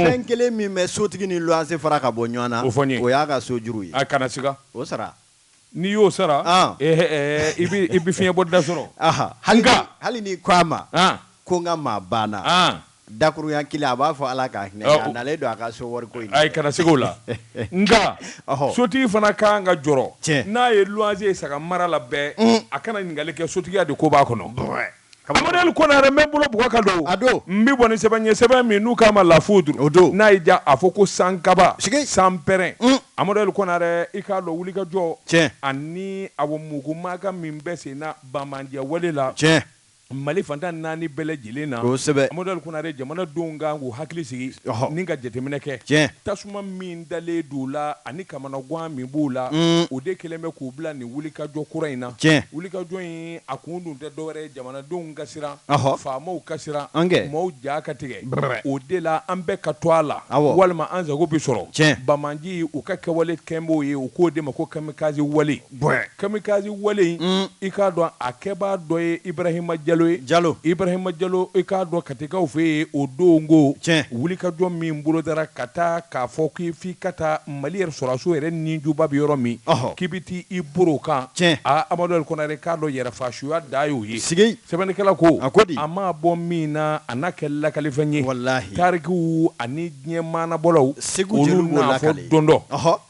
fɛn kelen min bɛ sotigi ni luwanse fara ka bɔ ɲɔgɔn na o fɔ n ye o y'a ka so juru ye a kana siga o sara n'i y'o sara ah. eh, eh, eh, i bɛ i bɛ fiɲɛ bɔ da sɔrɔ hali n'i ko a ma ko n ka maa banna ah. Dakurunya kelen a b'a fɔ Ala ka hinɛ a nalen don a ka so wariko in na, ayi kana segin o la nka sotigi fana ka kan ka jɔrɔ n'a ye luwanse ye saga mara la bɛɛ a kana ɲininkali kɛ sotigiya de ko b'a kɔnɔ, Amadu Konare n bɛ n bolo bugɔ ka don n bɛ bɔ ni sɛbɛn ye sɛbɛn min n'u k'a ma La Foudre n'a y'i diya a fɔ ko sankaba sanpɛrɛn Amadu Konare i k'a dɔn wulikajɔ ani awɔ mugu maaka min bɛ senna banbaanci wale la Mali fan tan naani bɛɛ lajɛlen na kosɛbɛ Amadu Konare jamanadenw kan k'u hakili sigi ni ka jateminɛ kɛ tiɲɛ tasuma min dalen d'u la ani kamanagan min b'u la o de kɛlen bɛ k'u bila nin wulikajɔ kura in na tiɲɛ wulikajɔ in a kun dun tɛ dɔwɛrɛ jamanadenw ka siran faamaw ka siran an kɛ maaw ja ka tigɛ o de la an bɛɛ ka to a la walima an sago bɛ sɔrɔ tiɲɛ banbaanciw ka kɛwale kɛ b'o ye u k'o de ma ko kamikaze wale Bɔn kamikaze wale in i k'a dɔn a kɛbaa dɔ ye ibarahima jalo ye jalo ibarahima jalo i k'a dɔn katikaw fɛ yen o don ko tiɲɛ wulikajɔ min bolodara ka taa k'a fɔ k'i f'i ka taa mali yɛrɛ sɔrɔsiw yɛrɛ nijuba bɛ yɔrɔ min k'i bɛ taa i boro kan tiɲɛ aa amadu konare k'a dɔn yɛrɛfasuya dan y'o ye sigi sɛbɛnnikɛla ko a ko di a ma bɔ min na a n'a kɛ lakalifɛn ye walahi tariku ani diɲɛ maanabɔlaw segu olu n'a fɔ don dɔ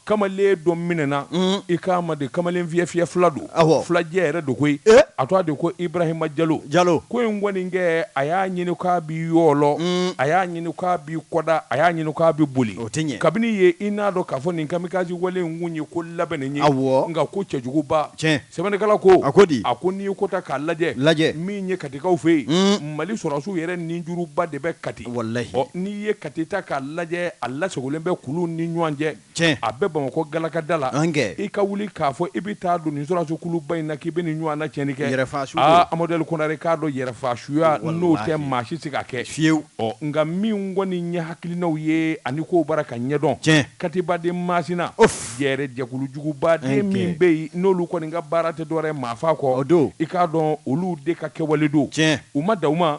kamalen dɔ minɛna mm. i k'a ma de kamalen fiyɛ fiyɛ fila don filajɛ yɛrɛ don koyi eh? a tɔgɔ de ko ibrahima jalo jalo ko in kɔni kɛ a y'a ɲini k'a bi yɔlɔ mm. a y'a ɲini k'a bi kɔda a y'a ɲini k'a bi boli o tɛ ɲɛ kabini ye i n'a dɔn k'a fɔ nin kamikazi wale in kun ye ko labɛnnen ye awɔ nka ko cɛjuguba tiɲɛ sɛbɛnnikɛla ko a ko di a ko n'i ye ko ta k'a lajɛ lajɛ min ye katikaw fɛ yen mm. mali sɔrɔsiw yɛrɛ ninjuruba de bɛ kati n'i ye kati ta k'a lajɛ a lasagolen bɛ kulu ni ɲɔgɔn cɛ a bɛ bamakɔ galakada la i ka wuli k'a fɔ i bɛ taa don nin sɔrɔsikuluba in na k'i bɛ nin ɲɔgɔnna tiɲɛni kɛ amadu konare k'a dɔn yɛrɛfasuya n'o tɛ maa si se k'a kɛ fiyewu ɔ nka min kɔni nin ɲɛ hakilinaw ye ani k'o bara ka ɲɛdɔn cɛ katiba de masina o yɛrɛ jɛkulujuguba de min bɛ yen n'olu kɔni ka baara tɛ dɔwɛrɛ maafa kɔ o don i k'a dɔn olu de ka kɛwale don cɛ u ma da u ma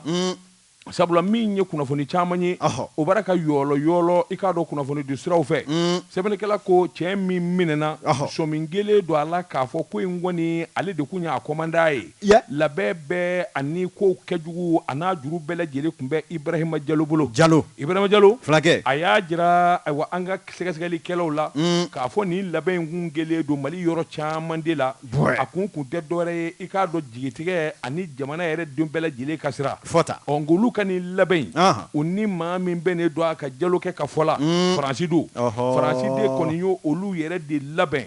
Sabula min ye kunnafoni caman ye o bara ka yɔlɔ yɔlɔ i k'a dɔn kunnafoni don siraw fɛ sɛbɛnnikɛla ko cɛ min minɛna sɔmi kɛlen don a la k'a fɔ ko in kɔni ale de tun y'a kɔmandan ye labɛn bɛɛ ani ko kɛjugu a n'a juru bɛɛ lajɛlen tun bɛ ibarahima jalo bolo jalo ibarahima jalo fulakɛ a y'a jira ayiwa an ka sɛgɛsɛgɛlikɛlaw la k'a fɔ nin labɛn in kun kɛlen don mali yɔrɔ caman de la a kun kun tɛ dɔwɛrɛ ye i k'a dɔn jigitigɛ ani jamana yɛrɛ den bɛɛ lajɛlen ka sira fɔta ɔ nka olu ka nin labɛn u ni maa min bɛnnen don a ka jalokɛ ka fɔ la faransi don faransi de kɔni y' olu yɛrɛ de labɛn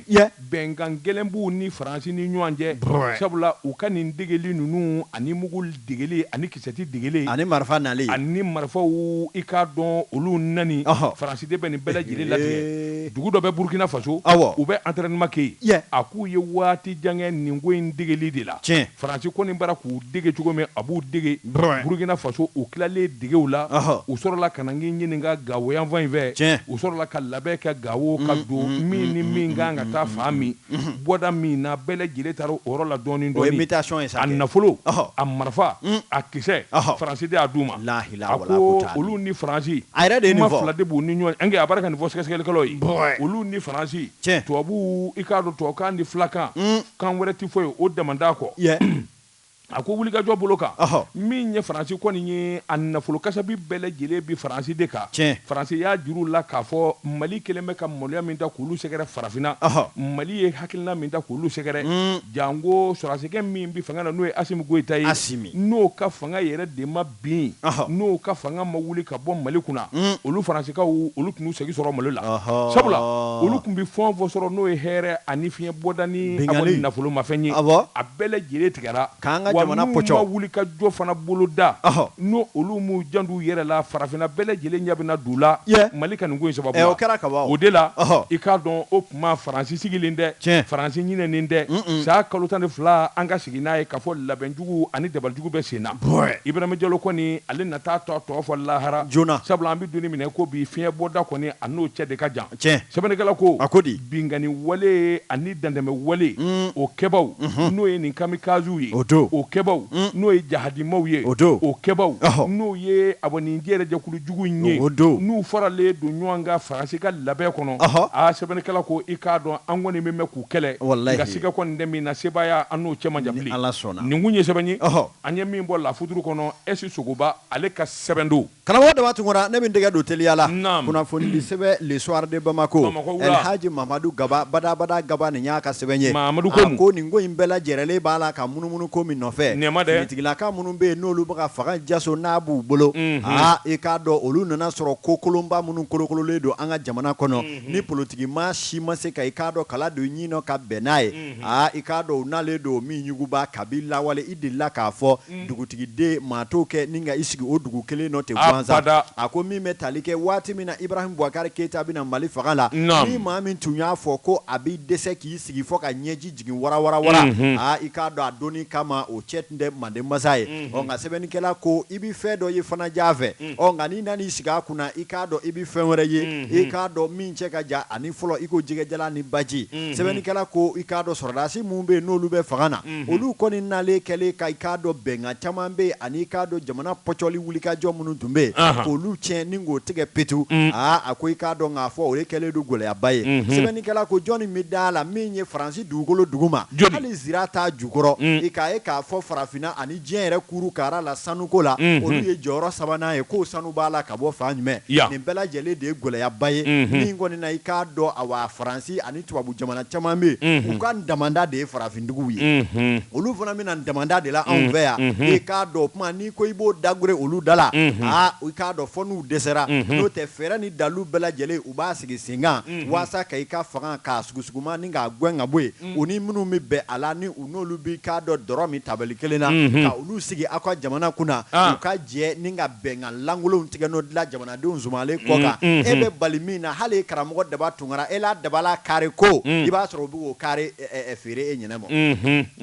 bɛnkan gɛlɛn b'u ni faransi ni ɲɔgɔn cɛ sabula u ka nin degeli ninnu ani mugu degeli ani Sɛti degeli ani marifa na ani marifaw i k'a dɔn olu naani faransi de bɛ nin bɛɛ lajɛlen latigɛ dugu dɔ bɛ burukina faso aw u bɛ entraînement kɛ yen a k'u ye waati jan kɛ nin ko in degeli de la tiɲɛ faransi kɔni bara k'u dege cogo min a b'u dege burukina faso u tilalen degew la u sɔrɔla ka na ɲini ka gawo yanfan in fɛ tiɲɛ u sɔrɔla ka labɛn kɛ gawo ka don min ni min kan ka taa fan min bɔda min na bɛɛ lajɛlen taara o yɔrɔ la dɔɔnin dɔɔnin a nafolo a marifa a kisɛ faransi de y'a d'u ma a ko olu ni faransi kuma fila de b'u ni ɲɔgɔn cɛ a bara ka nin fɔ sɛgɛsɛgɛlikɛlaw ye olu ni faransi tubabu i k'a dɔn tubabukan ni filakan kan wɛrɛ tɛ fɔ yen o dama kɔ A ko wulikajɔ bolo kan min ye faransi kɔni ye a nafolo kasabi bɛɛ lajɛlen bi faransi de kan faransi y'a jir'u la k'a fɔ mali kelen bɛ ka maloya min ta k'olu sɛgɛrɛ farafinna mali ye hakilina min ta k'olu sɛgɛrɛ janko sɔrɔdasikɛ min bɛ fanga na n'o ye asimi goyita ye n'o ka fanga yɛrɛ de ma bin n'o ka fanga ma wuli ka bɔ mali kunna olu faransikaw olu tɛn'u sago sɔrɔ mali la sabula olu tun bɛ fɛn o fɛn sɔrɔ n'o ye hɛrɛ ani fiɲɛ bɔda ni nafolomafɛn ye a bɛɛ lajɛlen tigɛra n'u ma wuli ka jɔ fana boloda n'olu m'u jant'u yɛrɛ la farafinna bɛɛ lajɛlen ɲɛ bɛna d'u la mali ka nin ko sababu la o kɛra kaban o de la i k'a dɔn o tuma faransi sigilen tɛ faransi ɲinɛnen tɛ sa kalo tan ni fila an ka sigi n'a ye k'a fɔ labɛn Jugu ani dabalijugu bɛ sen na. Bɔɛ! Ibrahim Diallo kɔni, ale na taa t'a tɔ fɔ lahara. Joona! Sabula an bɛ don min na i ko bi, fiɲɛ bɔda kɔni, a n'o cɛ de ka jan. Tiɲɛ! Sɛbɛnnikɛla ko. A ko di? Binkanni wale ani dantɛmɛ wale, o kɛbaaw, n'o ye nin kamikaziw ye. O don! O kɛbaaw, n'o ye jahadimaw ye. O don! O kɛbaaw, n'o ye awɔ nin jɛyɛrɛjɛkulu jugu in ye. O don! N'u faralen don ɲɔɔn kan Faransi ka labɛn kɔnɔ. Ɔhɔ! Aa! Sɛbɛnnikɛla ko, i k'a dɔn an kɔni bɛ mɛn k'u kɛlɛ nka siga kɔni tɛ min na sebaaya an n'o cɛ man jan bilen nin kun ye sɛbɛn ye an ye min bɔ lafuturu kɔnɔ ɛsi sogoba ale ka sɛbɛn don karamɔgɔ daba tunkara ne bɛ n tɛgɛ don teliya la kunnafonidi sɛbɛn le soir de Bamako Alhaji Mamadu Gaba badabada Gaba nin y'a ka sɛbɛn ye a ko nin ko in bɛɛ lajɛrɛlen b'a la ka munumunu ko min nɔfɛ finitigilaka minnu bɛ yen n'olu bɛ ka fanga jaso n'a b'u bolo aa i k'a dɔn olu nana sɔrɔ ko kolonba minnu kolokololen don an ka jamana kɔnɔ ni politigi maa si ma se ka i k'a dɔn kala don ɲin nɔ ka bɛn n'a ye i k'a dɔn n'ale don min yuguba kabi lawale i delila k'a fɔ dugutigiden maa t'o kɛ ni ka i sigi o dugu kelen nɔ ten gansan a ko min bɛ tali kɛ waati min na ibrahim buwakari keyita bɛ na mali fanga la ni maa min tun y'a fɔ ko a b'i dɛsɛ k'i sigi fɔ ka ɲɛji jigin wara wara wara i k'a dɔn a donni kama o cɛ tun tɛ manden masa ye nka sɛbɛnnikɛla ko i bɛ fɛn dɔ ye fana jan fɛ ɔ nka n'i nan'i sigi a kunna i k'a dɔn i bɛ fɛn wɛrɛ ye i k'a dɔn min cɛ ka jan ani fɔlɔ i ko jɛgɛjalan ni baji sɛbɛnnikɛla ko i k'a dɔn sɔrɔdasi minnu bɛ yen n'olu bɛ fanga na olu kɔni nalen kɛlen ka i k'a dɔn bɛnkan caman bɛ yen ani i k'a dɔn jamana pɔcɔli wulikajɔ minnu tun bɛ yen k'olu tiɲɛ ni k'o tigɛ petu aa a ko i k'a dɔn k'a fɔ o de kɛlen don gɛlɛyaba ye sɛbɛnnikɛla ko jɔnni bɛ da a la min ye faransi dugukolo duguma hali zira t'a jukɔrɔ i k'a ye k'a fɔ farafinna ani diɲɛ yɛrɛ kuuru kaara la sanuko la olu ye jɔyɔrɔ sabanan ye k'o sanu b'a la ka bɔ fan jumɛn nin bɛɛ lajɛlen de ye gɛlɛyaba ye min kɔni na i k'a dɔn awa faransi ani tubabu jamana caman bɛ yen u ka damanda de ye farafindugu ye olu fana bɛ na damanda de la anw fɛ yan i k'a dɔn o tuma n'i ko i b'o dagɛrɛn olu da la aa i k'a dɔn fɔ n'u dɛsɛra n'o tɛ fɛɛrɛ ni dalu bɛɛ lajɛlen u b'a sigi sen kan walasa ka i ka fanga k'a sugu suma ni k'a gɛn ka bɔ yen u ni minnu bɛ bɛn a la n'olu b'i k'a dɔn dɔrɔ min tabali kelen na ka olu sigi aw ka jamana kunna u ka jɛ ni ka bɛnkan lankolonw tigɛ n'o dilan jamanadenw sumalen kɔ kan e bɛ bali min na hali karamɔgɔ daba tunkara e la dabala kari ko i b'a sɔrɔ u bɛ k'o kari feere e ɲinɛ ma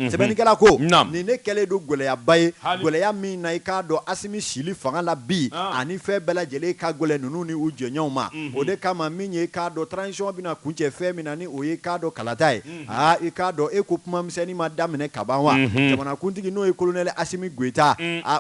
sɛbɛnnikɛla ko nin ne kɛlen don gɛlɛyaba ye gɛlɛya min na i k'a dɔn asimi sili fanga la bi ani fɛn bɛɛ lajɛlen ka gɛlɛn ninnu ni u jɛɲɔgɔnw ma o de kama min ye k'a dɔn transition bɛna kuncɛ fɛn min na ni o ye k'a dɔn kalata ye aa i k'a dɔn e ko kumamisɛnnin ma daminɛ ka ban wa jamanakuntigi n'o ye kolonɛl asimi goita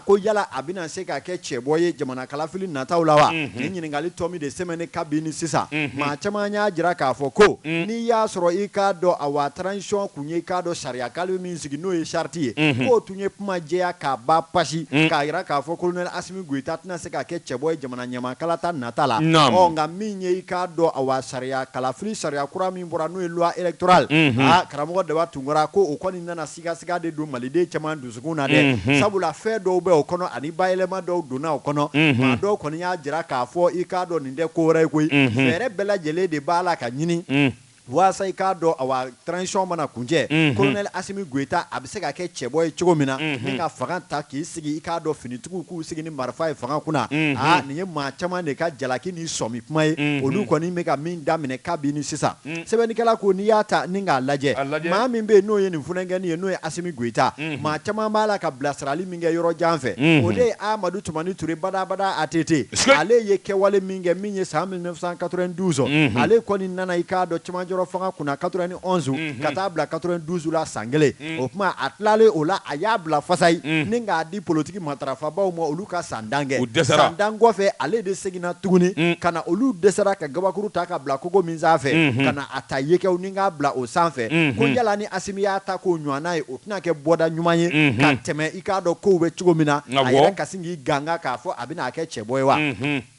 ko yala a bɛna se ka kɛ cɛbɔ ye jamana kalafili nataw la wa nin ɲininkali tɔ min de sɛmɛnnen kabini sisan maa caman y'a jira k'a fɔ ko n'i y'a sɔrɔ i k'a dɔn awa transition tun ye k'a dɔn sariyakale min sigi n'o ye charte ye k'o tun ye kuma jɛya k'a ba pasi k'a jira k'a fɔ kolonɛl asimi goita tɛna se ka kɛ cɛbɔ ye jamana ɲɛmaa kalata nata la nka min ye i k'a dɔn awa sariya kalafili sariya kura min bɔra n'o ye loi électorale unhun aa karamɔgɔ Daba Tunkara ko o kɔni nana sigasiga de don Maliden caman dusukun na dɛ unhun sabula fɛn dɔw bɛ o kɔnɔ ani bayɛlɛma dɔw donna o kɔnɔ unhun maa dɔw kɔni y'a jira k'a fɔ i k'a dɔn nin tɛ ko wɛrɛ ye koyi unhun fɛɛrɛ bɛɛ lajɛlen de b'a la ka ɲini walasa i k'a dɔn awa transition mana kuncɛ unhun colonel Assimi Goita a bɛ se ka kɛ cɛbɔ ye cogo min na unhun ni ka fanga ta k'i sigi i k'a dɔn Finitigiw k'u sigi ni marifa ye fanga kunna aa nin ye maa caman de ka jalaki ni sɔmi kuma ye olu kɔni bɛ ka min daminɛ kabini sisan sɛbɛnnikɛla ko n'i y'a ta ni k'a lajɛ maa min bɛ yen n'o ye nin funankɛnin ye n'o ye asimi goyita maa caman b'a la ka bilasirali min kɛ yɔrɔ jan fɛ o de ye amadu tumani ture badabada ATT ale ye kɛwale min kɛ min ye san mille neuf cent quatre-vingt-douze ale kɔni nana i k'a dɔn camancɛrɔ fanga kunna quatre-vingt-onze ka taa bila quatre-vingt-douze la san kelen o tuma a tilalen o la a y'a bila fasayi ni k'a di politigi matarafabaw ma olu ka san tan kɛ u dɛsɛ san tan kɔfɛ ale de seginna tuguni ka na olu dɛsɛra ka kabakuru ta ka bila kogo min sanfɛ ka na a ta yekɛw ni k'a bila o sanfɛ ko yala ni asimi y'a ta k'o ɲɔgɔnna ye o tɛna kɛ bɔda ɲuman ye ka tɛmɛ i k'a dɔn kow bɛ cogo min na a yɛrɛ ka sin k'i ganga k'a fɔ a bɛna kɛ cɛbɔ ye wa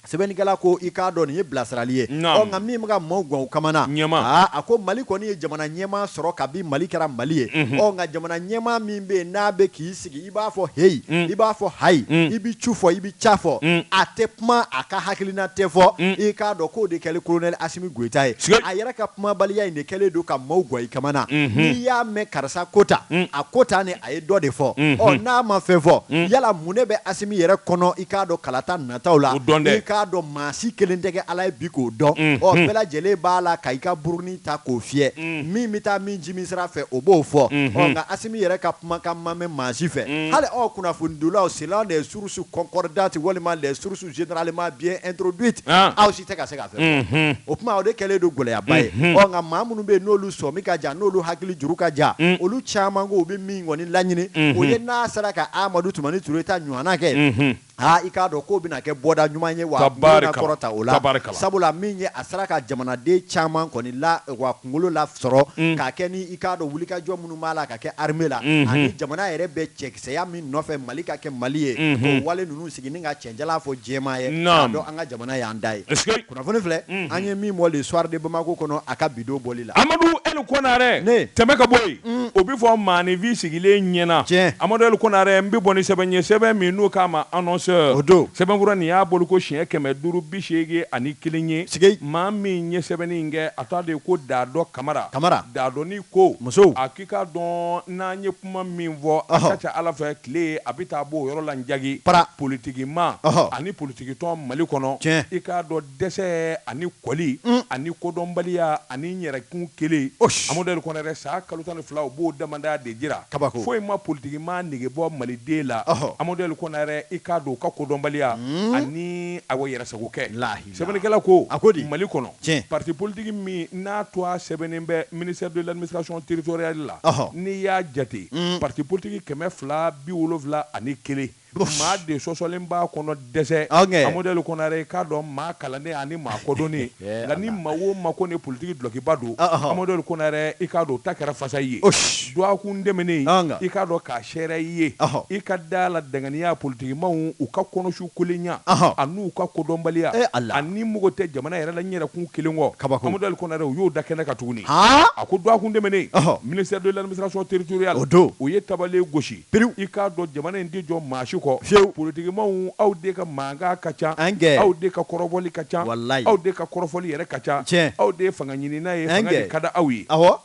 Sɛbɛnnikɛla ko i k'a dɔn nin ye bilasirali ye, naamu, ɔ nka min bɛ ka maaw gan u kamana, ɲɛmaa, aa a ko Mali kɔni ye jamana ɲɛmaa sɔrɔ kabi Mali kɛra Mali ye, unhun, ɔ nka jamana ɲɛmaa min bɛ yen n'a bɛ k'i sigi i b'a fɔ heyi, un, i b'a fɔ hayi, un, i bɛ cu fɔ i bɛ ca fɔ, un, a tɛ kuma a ka hakilina tɛ fɔ, un, i k'a dɔn k'o de kɛlen Kolonɛli Asimi Goyita ye, siga, a yɛrɛ ka kumabaliya in de kɛlen don ka maaw gan i kamana, unhun, n'i y'a mɛn karisa ko tan, un, a ko tan de a ye dɔ de fɔ, unhun, ɔ n'a ma fɛn fɔ, un, yala mun de bɛ Asimi yɛrɛ kɔnɔ i k'a dɔn kalata na taw la i k'a dɔn maa si kelen tɛ kɛ ala ye bi k'o dɔn ɔ bɛɛ lajɛlen b'a la ka i ka burunin ta k'o fiyɛ min bɛ taa min jimi sira fɛ o b'o fɔ nka asimi yɛrɛ ka kumakan ma mɛn maa si fɛ hali aw kunnafonidila sen de ye source concordante walima source généralement bien introduite aw si tɛ ka se ka fɛn fɔ o tuma o de kɛlen don gɛlɛyaba ye nka maa minnu bɛ yen n'olu sɔmi ka jan n'olu hakili juru ka jan olu caman ko u bɛ min kɔni laɲini o ye n'a sera ka amadu tumani ture ta ɲɔgɔnna kɛ Aa i k'a dɔn k'o bɛna kɛ bɔda ɲuman ye wa a kunkolo bɛna kɔrɔta o la tabarikala sabula min ye a sera ka jamanaden caman kɔni lawa kunkolo lasɔrɔ mm. k'a kɛ ni i k'a dɔn wulikajɔ minnu b'a la ka kɛ armée la mm -hmm. ani jamana yɛrɛ bɛ cɛkisɛya min nɔfɛ Mali ka kɛ Mali ye mm -hmm. k'o wale ninnu sigi ni ka cɛn jalan fɔ jɛnmaa ye k'a dɔn an ka jamana y'an ta ye Kunnafoni filɛ an ye min bɔ le soir de bamakɔ kɔnɔ a ka bi don bɔli la amadu el konarɛ tɛmɛ ka bɔ yen o bɛ fɔ maaninfin sigilen ɲɛna cɛ amadu el konarɛ n bɛ bɔ ni sɛbɛn ye sɛbɛn min n'u k'a ma annonceur o don sɛbɛnfura nin y'a bɔli ko siɲɛ kɛmɛ duuru bi seegin ani kelen ye sigi maa min ye sɛbɛnni in kɛ a tɔgɔ de ye ko daadɔ kamara kamara daadɔnin ko muso a k'i k'a dɔn n'an ye kuma min fɔ a ka ca a la fɛ tile a bɛ taa bɔ o yɔrɔ la jaabi pa politigimaa ani poli tigitɔn mali kɔnɔ i k'a dɔn dɛsɛ ani kɔli ani kodɔnbaliya ani yɛrɛkun kelen amadu konarɛ san kalo tan ni fila u b'o dama de jira kaba foyi ma politigimaa nege bɔ maliden la amadu konarɛ i k'a dɔn u ka kodɔnbaliya ani a yɛrɛsago kɛ lahi sɛbɛnnikɛla ko a ko di mali kɔnɔ tiɲɛ pati politigi min n'a tɔgɔ sɛbɛnnen bɛ ministère de l'administration territoriale la n'i y'a jate pati politigi kɛmɛ fila bi wolowula ani kelen maa de sɔsɔlen b'a kɔnɔ dɛsɛ Amadu El Konare i k'a dɔn maa kalannen ani maa kodɔnnen nka ni maa o maa kɔni ye politique dulɔkiba don Amadu El Konare i k'a dɔn o ta kɛra fasa i ye dɔgɔkun tɛmɛnen i k'a dɔn k'a sɛɛrɛ i ye i ka d'a la danganiya politikimaw u ka kɔnɔsu kolenya an'u ka kodɔnbaliya ani mago tɛ jamana yɛrɛ la n'i yɛrɛ kun kelen kɔ Amadu El Konare u y'o da kɛnɛ kan tuguni a ko dɔgɔkun tɛmɛnen ministère de l'administration territoriale o don u ye tabale gosi pewu i k'a dɔn jamana in tɛ jɔ maa si kɔ fiyewu politikimaw aw de ka mankan ka ca Angɛ aw de ka kɔrɔbɔli ka ca walayi aw de ka kɔrɔfɔli yɛrɛ ka ca tiɲɛ aw de ye fanga ɲinina ye fanga de ka di aw ye awɔ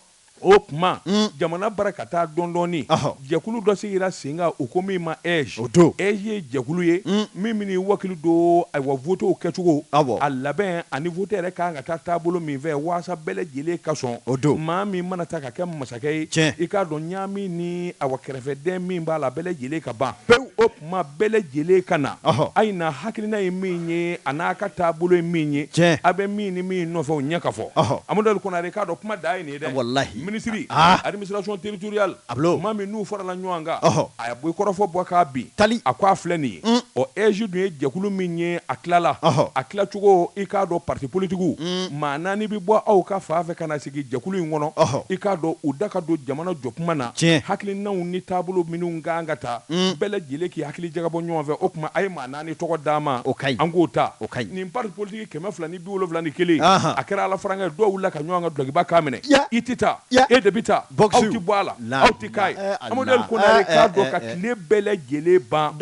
o tuma jamana baara ka taa dɔɔn-dɔɔnin ɔhɔ jɛkulu dɔ sigira sen kan u ko min ma AIGE o don AIGE ye jɛkulu ye min bɛna i wakili don ayiwa votew kɛcogo awɔ a labɛn ani vote yɛrɛ ka kan ka taa taabolo min fɛ waasa bɛɛ lajɛlen ka sɔn o don maa min mana taa ka kɛ masa i k'a dɔn ɲagami ni a wa kɛrɛfɛden min b'a la bɛɛ lajɛlen ka ban pewu o tuma bɛɛ lajɛlen ka na a ye na hakilina ye min ye a n'a ka taabolo ye min ye cɛ a bɛ min ni min nɔfɛ o ɲɛ ka fɔ Amadu El Konare k'a dɔn kuma da a ye nin dɛ ministre administration territoriale maa minnu farala ɲɔgɔn kan a ye bɔ kɔrɔfɔ bɔ k'a bin taali a ko a filɛ nin ye ɔ AIGE dun ye jɛkulu min ye a tilala a tilacogo i k'a dɔn pati politigiw maa naani bɛ bɔ aw ka fan fɛ ka na sigi jɛkulu in kɔnɔ i k'a dɔn u da ka don jamana jɔkuma na hakilinanw ni taabolo minnu ka kan ka ta bɛɛ lajɛlen k'i hakili jagabɔ ɲɔgɔn fɛ o tuma a ye maa naani tɔgɔ d'an ma an k'o ta nin parti politique kɛmɛ fila ni bi wolonwula ni kelen a kɛra alafarankɛ dɔw wulila ka ɲɔgɔn ka dulɔkiba kan minɛ i tɛ taa e de bɛ taa aw tɛ bɔ a la aw tɛ k'a ye Amadu El Konare k'a dɔn ka tile bɛɛ lajɛlen ban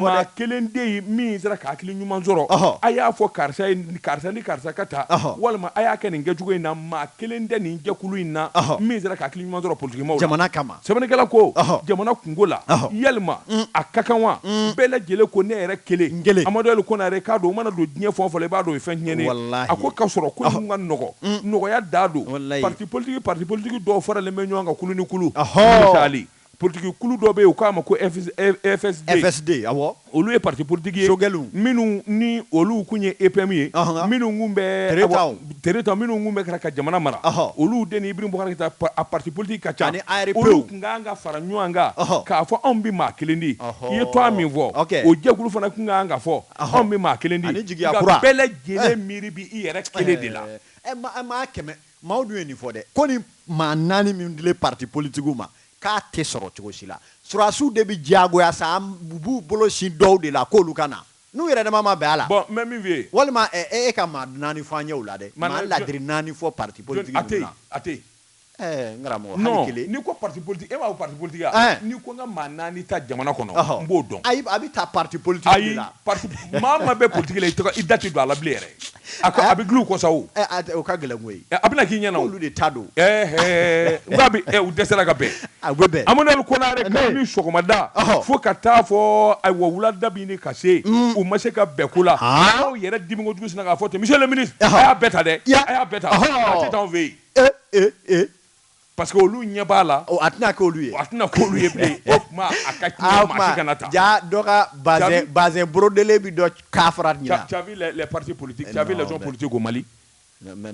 maa kelen tɛ yen min sera ka hakili ɲuman sɔrɔ a y'a fɔ karisa ye karisa ni karisa ka taa walima a y'a kɛ nin kɛcogo in na maa kelen tɛ nin jɛkulu in na min sera ka hakili ɲuman sɔrɔ politikimaw la jamana kama sɛbɛnnikɛla ko jamana kunko la yalima mm. a ka kan wa mm. bɛɛ lajɛlen ko ne yɛrɛ kelen kelen Amadu El Konare k'a dɔn o mana don diɲɛ fɛn o fɛn i b'a dɔn o ye fɛn tiɲɛn a ko k'a sɔrɔ ko in ka nɔgɔn mm. nɔgɔya da don pati politigi pati politigi dɔw faralen bɛ ɲɔgɔn kan kulu ni kulu taali Politigi kulu dɔ bɛ yen u k'a ma ko FSD, awɔ, olu ye parti politique ye, sogɛliw, minnu ni olu tun ye EPM ye, ɔnhɔn, minnu tun bɛ Tereta kɔ, Tereta kɔ, minnu tun bɛ ka jamana mara, ɔhɔ, olu de ni Ibrahim Boubacar Keita a parti politique ka ca, ani ARP, olu tun ka kan ka fara ɲɔgɔn kan, ɔhɔ, k'a fɔ anw bɛ maa kelen di, ɔhɔ, i ye tɔgɔ min fɔ, ok, o jɛkulu fana tun ka kan ka fɔ, ɔhɔ, anw bɛ maa kelen di, ani jigiya kura, nka bɛɛ lajɛlen miiri bɛ i yɛrɛ kelen de la, ɛɛ, maa kɛmɛ Maaw dun ye nin fɔ dɛ, ko nin maa naani minnu dilen parti politiques ma, k'a tɛ sɔrɔ cogo si la. Sɔrɔdasiw de bɛ diyagoya sa, u b'u bolo sin dɔw de la k'olu ka na, n'u yɛrɛdama ma bɛn a la. Bon n bɛ min f'i ye. Walima ɛ e ka maa naani fɔ an ye o la dɛ, maa ladiri naani fɔ parti politique ninnu na. Jɔni? A tɛ yen, a tɛ yen. Ɛɛ n karamɔgɔ, hali kelen. Non n'i ko parti politique e m'a fɔ parti politique wa? Ɛɛ! N'i ko n ka maa naani ta jamana kɔnɔ, n b'o dɔn. Ayi, a bɛ ta parti politique de la. Ayi, parti, maa o maa bɛ politique la, i da tɛ don a la bilen yɛrɛ. A ko a bɛ glu ko sa o ka gɛlɛnko ye a bɛna k'i ɲɛna olu de ta don nka bi u dɛsɛra ka bɛn a bɛn amadu konare kabini sɔgɔmada fo ka taa fo ayiwa wulada bɛ ɲini ka se u ma se ka bɛn ko la aw yɛrɛ dimi kojugu sinna k'a fɔ ten monsieur le ministre a y'a bɛɛ ta dɛ a y'a bɛɛ ta an t'a fɛ yen Pa que olu ɲɛ b'a la a tɛna kɛ ye a tɛna kɛ ye a boloden bɛ ka fara pate politi politi ko mali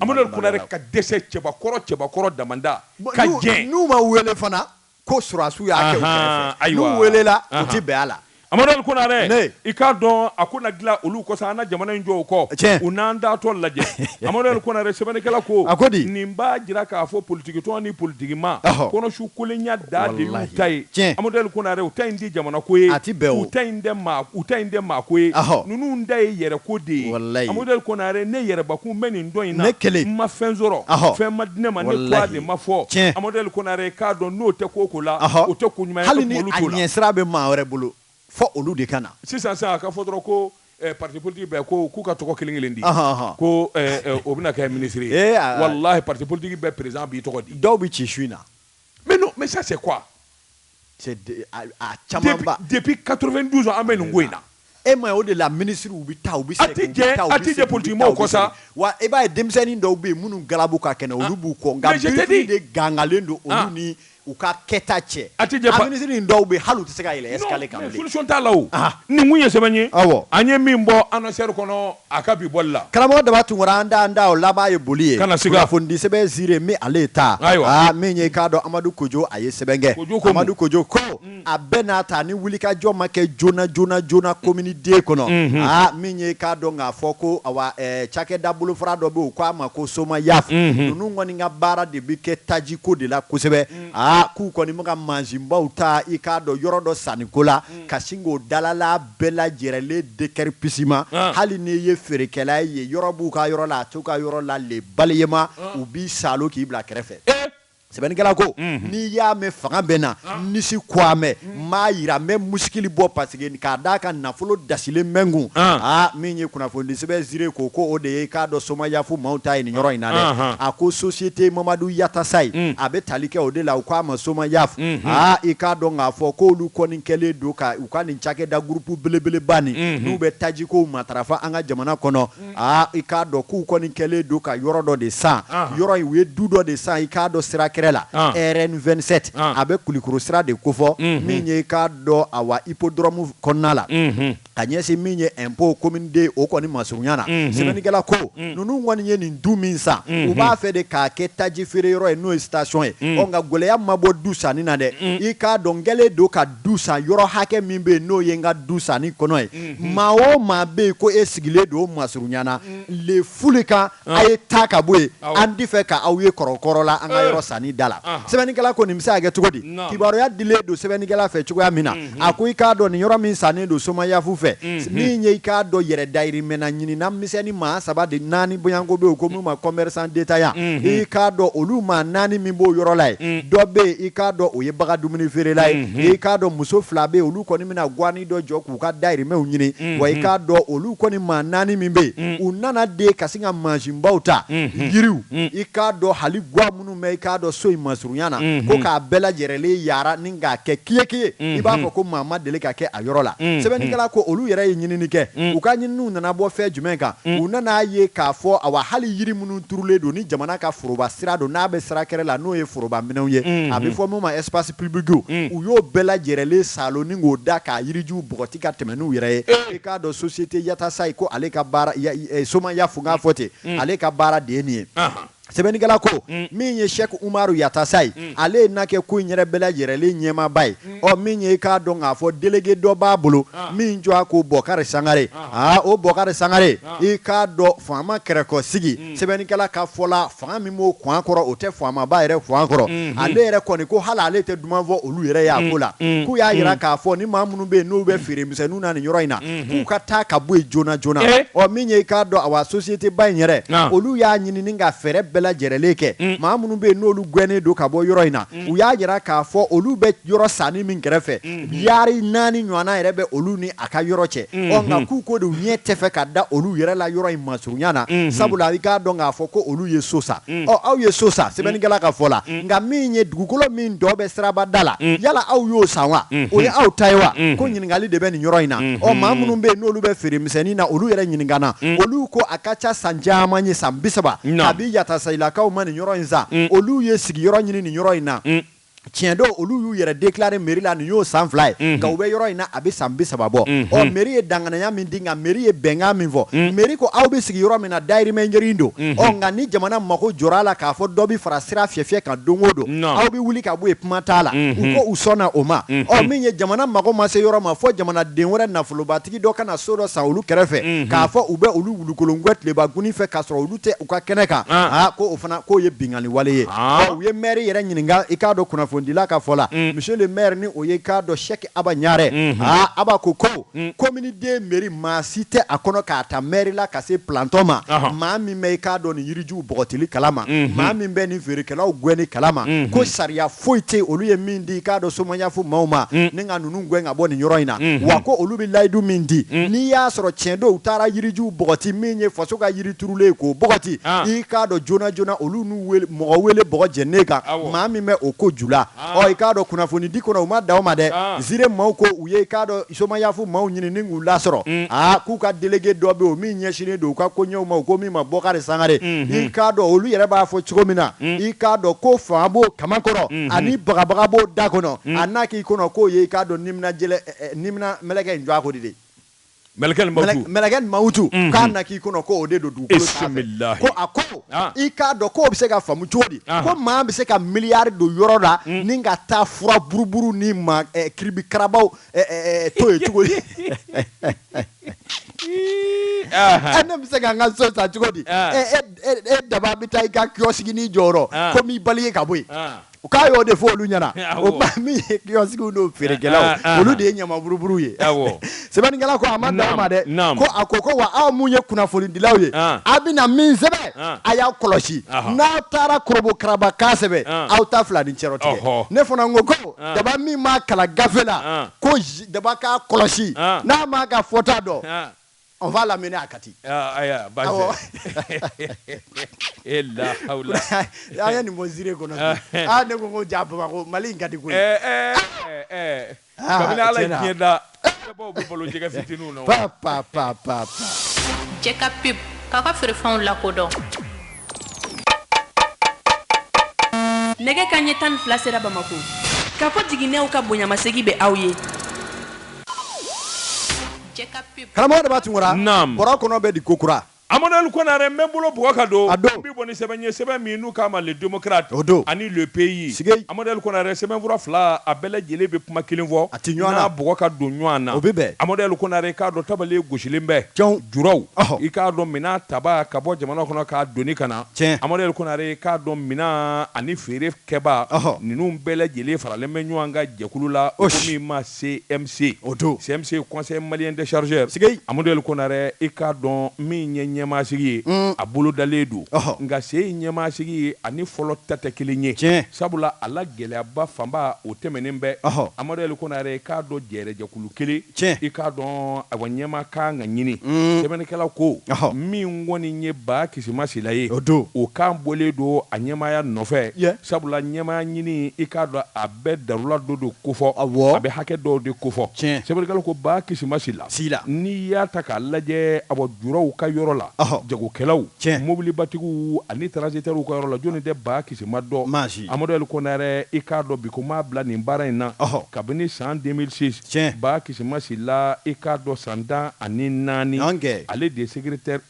amadu ka dɛsɛ cɛbakɔrɔ cɛbakɔrɔ dada ka n'u ma wele fana ko susiw y'a ayiwa welela tɛ bɛn a la Amadu Konare i k'a dɔn a ko na dilan olu ko an ka jamana in jɔ kɔ u n'an da tɔ lajɛ amadu konare sɛbɛnnikɛla ko a ko di nin b'a jira k'a fɔ politigitɔn ni politigimaa kɔnɔ su kolenya da de ta ye tiɲɛ amadu konare u ta in tɛ jamana ko ye a tɛ bɛn u ta in tɛ maa u ta in tɛ maa ko ye ninnu ta ye yɛrɛ ko de ye amadu konare ne yɛrɛbakun bɛ nin dɔn in ne kelen ma fɛn sɔrɔ fɛn ma di ne ma ne ko de ma fɔ tiɲɛ amadu konare k'a dɔn n'o tɛ ko sira bɛ maa wɛrɛ bolo fɔ olu de ka na sisan sisan ka fɔ ko patigi k'u ka tɔgɔ kelen kelen di ko o bɛ kɛ minisiri wala patigi bɛ perez bi tɔgɔ di dɔw bɛ ci su in na mɛ se caman kato dusu an bɛ nin ko in na E ma o de la minisiri u bɛ taa u bɛ se a tɛ jɛ a tɛ jɛ politiki maaw kɔ sa wa e b'a ye denmisɛnnin dɔw bɛ yen minnu galabu ka kɛnɛ olu b'u kɔ nka de gangalen don olu ni u ka kɛta cɛ a tɛ jɛ minisiri nin dɔw bɛ hali u tɛ se ka yɛlɛ escalier kan solution t'a la nin mun ye sɛbɛ ye aw an ye min bɔ annonceur kɔnɔ a ka bi bɔli la karamɔgɔ daba tunkara an da an da o laban ye boli ye ka na se kunnafoni sɛbɛn ziré min ale ye ta ayiwa min ye k'a dɔn amadu kojo a ye sɛbɛn kɛ amadu kojo ko a bɛɛ n'a ta ni wulikajɔ ma kɛ joona joona joona komini deux kɔnɔ aa min ye k'a dɔn k'a fɔ ko awa ɛɛ cakɛda bolofara dɔ bɛ yen u k'a ma ko somayaf ninnu kɔni ka baara de bɛ kɛ tajiko de la kosɛbɛ aa k'u kɔni bɛ ka mansinbaw ta i k'a dɔn yɔrɔ dɔ sanniko la ka sin k'o dalala bɛɛ lajɛrɛlen déguerpissement hali n'i ye feerekɛla ye yɔrɔ b'u ka yɔrɔ la a t'u ka yɔrɔ la le balayement u b'i saalo k'i bila kɛrɛfɛ sɛbɛnnikɛla ko n'i y'a mɛn fanga bɛ na nisi kuamɛ maa jira n bɛ muskili bɔ parce que k'a d'a ka nafolo dasilen mɛnkun aa min ye kunnafoni sɛbɛn zire ko ko o de ye i k'a dɔn somayafu maaw ta ye nin yɔrɔ in na dɛ a ko société mamadu yatasaye a bɛ tali kɛ o de la u k'a ma somayafu aa i k'a dɔn k'a fɔ k'olu kɔni kɛlen don ka u ka nin cakɛda groupe belebeleba nin n'u bɛ tajiko matarafa an ka jamana kɔnɔ aa i k'a dɔn k'u kɔni kɛlen don ka yɔrɔ dɔ de san yɔrɔ u ye du dɔ de san i k'a dɔn sira kɛrɛ la rn27 a bɛ kulikoro sira de kofɔ min ye i k'a dɔn awa hippodrome kɔnɔna la ka ɲɛsin min ye impôt commune deux o kɔni masurunya na sɛbɛnnikɛla ko ninnu kɔni ye nin du min san u b'a fɛ de k'a kɛ taji feereyɔrɔ ye n'o ye station ye nka gɛlɛya ma bɔ du sanni na dɛ i k'a dɔn kɛlen don ka du san yɔrɔ hakɛ min bɛ yen n'o ye n ka du sannen kɔnɔ ye mhm. maa o maa bɛ yen ko e sigilen don o masurunya na mhm. allez fous le camp ah. a ye taa ka bɔ yen an tɛ fɛ ka aw ye kɔrɔkɔrɔ la an ka eh. yɔrɔ sannen da la ah. sɛbɛnnikɛla ko nin bɛ se ka kɛ cogo di kibaruya dilen don sɛbɛnnikɛla fɛ cogoya min na mhm. a ko i k'a dɔn nin yɔrɔ min sannen don somayafu fɛ nin ye i k'a dɔn yɛrɛ dayirimɛna ɲininna misɛnnin maa saba de naani bɔɲɔgɔnko bɛ yen ko minnu ma commerçant détaillant i k'a dɔn olu maa naani min b'o yɔrɔ la yen dɔ bɛ yen i k'a dɔn o ye bagan dumuni feerela ye i k'a dɔn muso fila bɛ yen olu kɔni bɛna gwanin dɔ jɔ k'u ka dayirimɛw ɲini wa i k'a dɔn olu kɔni maa naani min bɛ yen u nana de ka sin ka mansinbaw ta yiriw i k'a dɔn hali gwa minnu bɛ i k'a dɔn so in masurunya na mhm. ko k'a bɛɛ lajɛrɛlen yara ni k'a kɛ kiyeke ye i mhm. b'a fɔ ko maa ma deli ka kɛ a yɔrɔ la mhm. sɛbɛnnikɛla ko olu yɛrɛ ye ɲinini kɛ u ka ɲininiw nana bɔ fɛn jumɛn kan u nan'a ye k'a fɔ awa hali yiri minnu turulen don ni jamana ka foroba sira don n'a bɛ sira kɛrɛ la n'o ye foroba minɛnw ye a bɛ fɔ min ma espace public u y'o bɛɛ lajɛrɛlen salo ni k'o da k'a yirijuw bɔgɔti ka tɛmɛ n'u yɛrɛ ye eh. i k'a dɔn société yatasaye ko ale ka baara somayafu n k'a fɔ ten ale ka baara de ye nin ye sɛbɛnnikɛla ko mm. min ye sɛk umaru yatasaye mm. ale ye na kɛ ko in yɛrɛ bɛɛ lajɛrɛlen ɲɛmaaba ye mm. ɔ min ye i k'a dɔn k'a fɔ délégué dɔ b'a bolo ah. min tɔgɔ ko bɔkari sangare aa ah. ah, o bɔkari sangare i k'a dɔn faama kɛrɛkɔsigi sɛbɛnnikɛla ka fɔ la fanga min b'o kwan kɔrɔ o tɛ faamaba yɛrɛ kwan kɔrɔ mm-hmm. ale yɛrɛ kɔni ko hali ale tɛ duman fɔ olu yɛrɛ y'a ko la k'u y'a jira k'a fɔ ni maa minnu bɛ yen n'u bɛ feere misɛnninw na nin yɔrɔ in na k'u ka taa ka bɔ yen joona joona Eh. ɔ min ye i k'a dɔn awa société ba in yɛrɛ Naam. olu y'a ɲini ni ka fɛɛrɛ bɛɛ lajɛrɛlen kɛ maa minnu bɛ yen n'olu gɛnnen don ka bɔ yɔrɔ in na u y'a jira k'a fɔ olu bɛ yɔrɔ sannen min kɛrɛfɛ yaari naani ɲɔgɔnna yɛrɛ bɛ olu ni a ka yɔrɔ cɛ ɔ nka k'u ko de u ɲɛ tɛ fɛ ka da olu yɛrɛ la yɔrɔ in masurunya na sabula i k'a dɔn k'a fɔ ko olu ye so sa aw ye so san sɛbɛnnikɛla ka fɔ la nka min ye dugukolo min dɔ bɛ sirabada la yala aw y'o san wa o ye aw ta ye wa ko ɲininkakali de bɛ nin yɔrɔ in na ɔ maa minnu bɛ yen n'olu bɛ feere misɛnnin na olu yɛrɛ ɲininkana olu ko a ka ca san caman ye san bi saba kabi Yatasayilakaw ma nin yɔrɔ in san olu ye sigiyɔrɔ ɲini nin yɔrɔ in na tiɲɛ don olu y'u yɛrɛ déclarer mairie la nin y'o san fila ye nka u bɛ yɔrɔ in na a bɛ san bi saba bɔ ɔ mairie ye danganaya min di nka mairie ye bɛnkan min fɔ mairie ko aw bɛ sigi yɔrɔ min na dayirimɛ ɲini don ɔ nka ni jamana mago jɔra a la k'a fɔ dɔ bɛ fara sira fiyɛfiyɛ kan don o don aw bɛ wuli ka bɔ yen kuma t'a la u ko u sɔnna o ma ɔ min ye jamana mago ma se yɔrɔ ma fɔ jamanaden wɛrɛ nafolobatigi dɔ ka na so dɔ san olu kɛrɛfɛ k'a fɔ u bɛ olu wulukolon gwɛn tileba goni fɛ k'a sɔrɔ olu tɛ u ka kɛnɛ kan aa ko o fana k'o ye binkanni wale ye u ye maire yɛrɛ ɲininka i k'a dɔn kunnafonidila ka fɔ la monsieur le maire ni o ye i k'a dɔn Sɛki Aba Ɲare aa Aba ko ko commune II mairie maa si tɛ a kɔnɔ k'a ta maire la ka se plantɔ ma maa min bɛ i k'a dɔn nin yirijuw bɔgɔtili kalama maa min bɛ nin feerekɛlaw gɛnni kalama ko sariya foyi tɛ olu ye min di i k'a dɔn somayafu maaw ma mm. ni ka ninnu gɛn ka bɔ nin yɔrɔ in na mm-hmm. wa ko olu bɛ layidu min di mm. n'i y'a sɔrɔ tiɲɛ don u taara yirijuw bɔgɔti min ye faso ka yiri turulen ye k'o bɔgɔti ah. i k'a dɔn joona joona olu n'o mɔgɔ wele bɔgɔ jɛnnen kan maa min bɛ o ko ju la ah. ɔ i k'a dɔn kunnafonidi kɔnɔ u ma da o ma dɛ ah. zire maaw ko u ye i k'a dɔn somayafu maaw ɲini ni k'u lasɔrɔ mm. aa k'u ka delege dɔ bɛ yen o min ɲɛsinnen don u ka koɲɛw ma u ko min ma bɔkari sangare mm-hmm. i k'a dɔn olu yɛrɛ b'a fɔ cogo min na mm. i k'a dɔn ko fanga b'o kaman kɔrɔ mm-hmm. ani bagabaga b'o da kɔnɔ mm. a n'a k'i kɔnɔ k'o ye i k'a dɔn nimina jɛlɛ eh, eh, nimina mɛlɛkɛ in jɔn a ko de de mɛlɛkɛ nin mawutu mɛlɛkɛ nin mawutu mm-hmm. k'a na k'i kɔnɔ ko o de don dugukolo sanfɛ ko a ko ah. i k'a dɔn k'o bɛ se ka faamu cogo di ah. ko maa bɛ se ka miliyari don yɔrɔ la ni ka taa fura buruburu ni ma eh, kiribikarabaw to yen cogo di ne bɛ se ka n ka so san cogo di e daba bɛ taa i ka kiosque nin jɔ yɔrɔ ko n b'i bali ye ka bɔ yen u k'a y'o de fɔ olu ɲɛna o ba min ye kiosquew n'o feerekɛlaw olu de ye ɲamaburuburuw ye sɛbɛnnikɛla ko a ma da o ma dɛ ko a ko ko wa aw min ye kunnafonidilaw ye a bɛna min sɛbɛn a y'a kɔlɔsi n'aw taara kɔrɔbɔkarabakan sɛbɛn aw ta fila ni cɛ tigɛ ne fana ko ko daba min m'a kalan gafe la ko daba k'a kɔlɔsi n'a m'a ka fɔta dɔn on va l'amener à Kati e la y'a ye nin bɔ zire kɔnɔ ne ko ko ja baba mali in ka di koyi ala da Kodɔn nɛgɛ kanɲɛ tan ni fila sera bamakɔ Kafo jiginɛw ka bonyamasegin bɛ aw ye karamɔgɔ Daba Tunkara bɛ di kokura Amaduli Konare n bɛ n bolo bugɔ ka don bi bɔ ni sɛbɛn ye sɛbɛn min n'u k'a ma le démocrate o don ani le pays sigei Amaduli Konare sɛbɛnfura fila a bɛɛ lajɛlen bɛ kuma kelen fɔ a tɛ ɲɔgɔn na n'a bugɔ ka don ɲɔgɔn na o bɛ bɛn Amaduli Konare i k'a dɔn tabale gosilen bɛ tiɲɛ juraw i k'a dɔn minan tabaa ka bɔ jamana kɔnɔ k'a doni ka na tiɲɛ Amaduli Konare i k'a dɔn minan ani feerekɛbaa ninnu bɛɛ lajɛlen faralen bɛ ɲɔgɔn kan jɛkulu la o min ma CMC o don CMC ye conseil malien des chargeurs sigei Amaduyɛli Konarɛ i k'a dɔn min ye ɲɛmaasigi ye mm. a bolodalen don oh. nka sen in ɲɛmaasigi ye ani fɔlɔ ta tɛ kelen ye tiɲɛ sabula a la gɛlɛyaba fanba o tɛmɛnen bɛ oh. Amaduyɛli Konarɛ i k'a dɔn jɛɛrɛjɛkulu kelen tiɲɛ i k'a dɔn awa ɲɛmaa ka kan ka ɲini mm. sɛbɛnnikɛlaw ko oh. min kɔni ye Ba Kisima Sila ye o don o kan bɔlen don a ɲɛmaaya nɔfɛ yeah. sabula ɲɛmaaya ɲini i k'a dɔn a bɛ darula dɔw de kofɔ a bɛ hakɛ dɔw de kofɔ sɛbɛnnikɛla ko Ba Kisima Sila n'i y'a ta k'a lajɛ a bɔ juraw ka yɔrɔ la jagokɛlaw mobilibatigiw ani transitɛriw ka yɔrɔ la jɔnni tɛ Ba Kisima dɔn maa si Amaduli Konare i k'a dɔn bi ko m'a bila nin baara in na kabini san deux mille six tiɲɛ Ba Kisima Sila i k'a dɔn san tan ani naani ale de secrétaire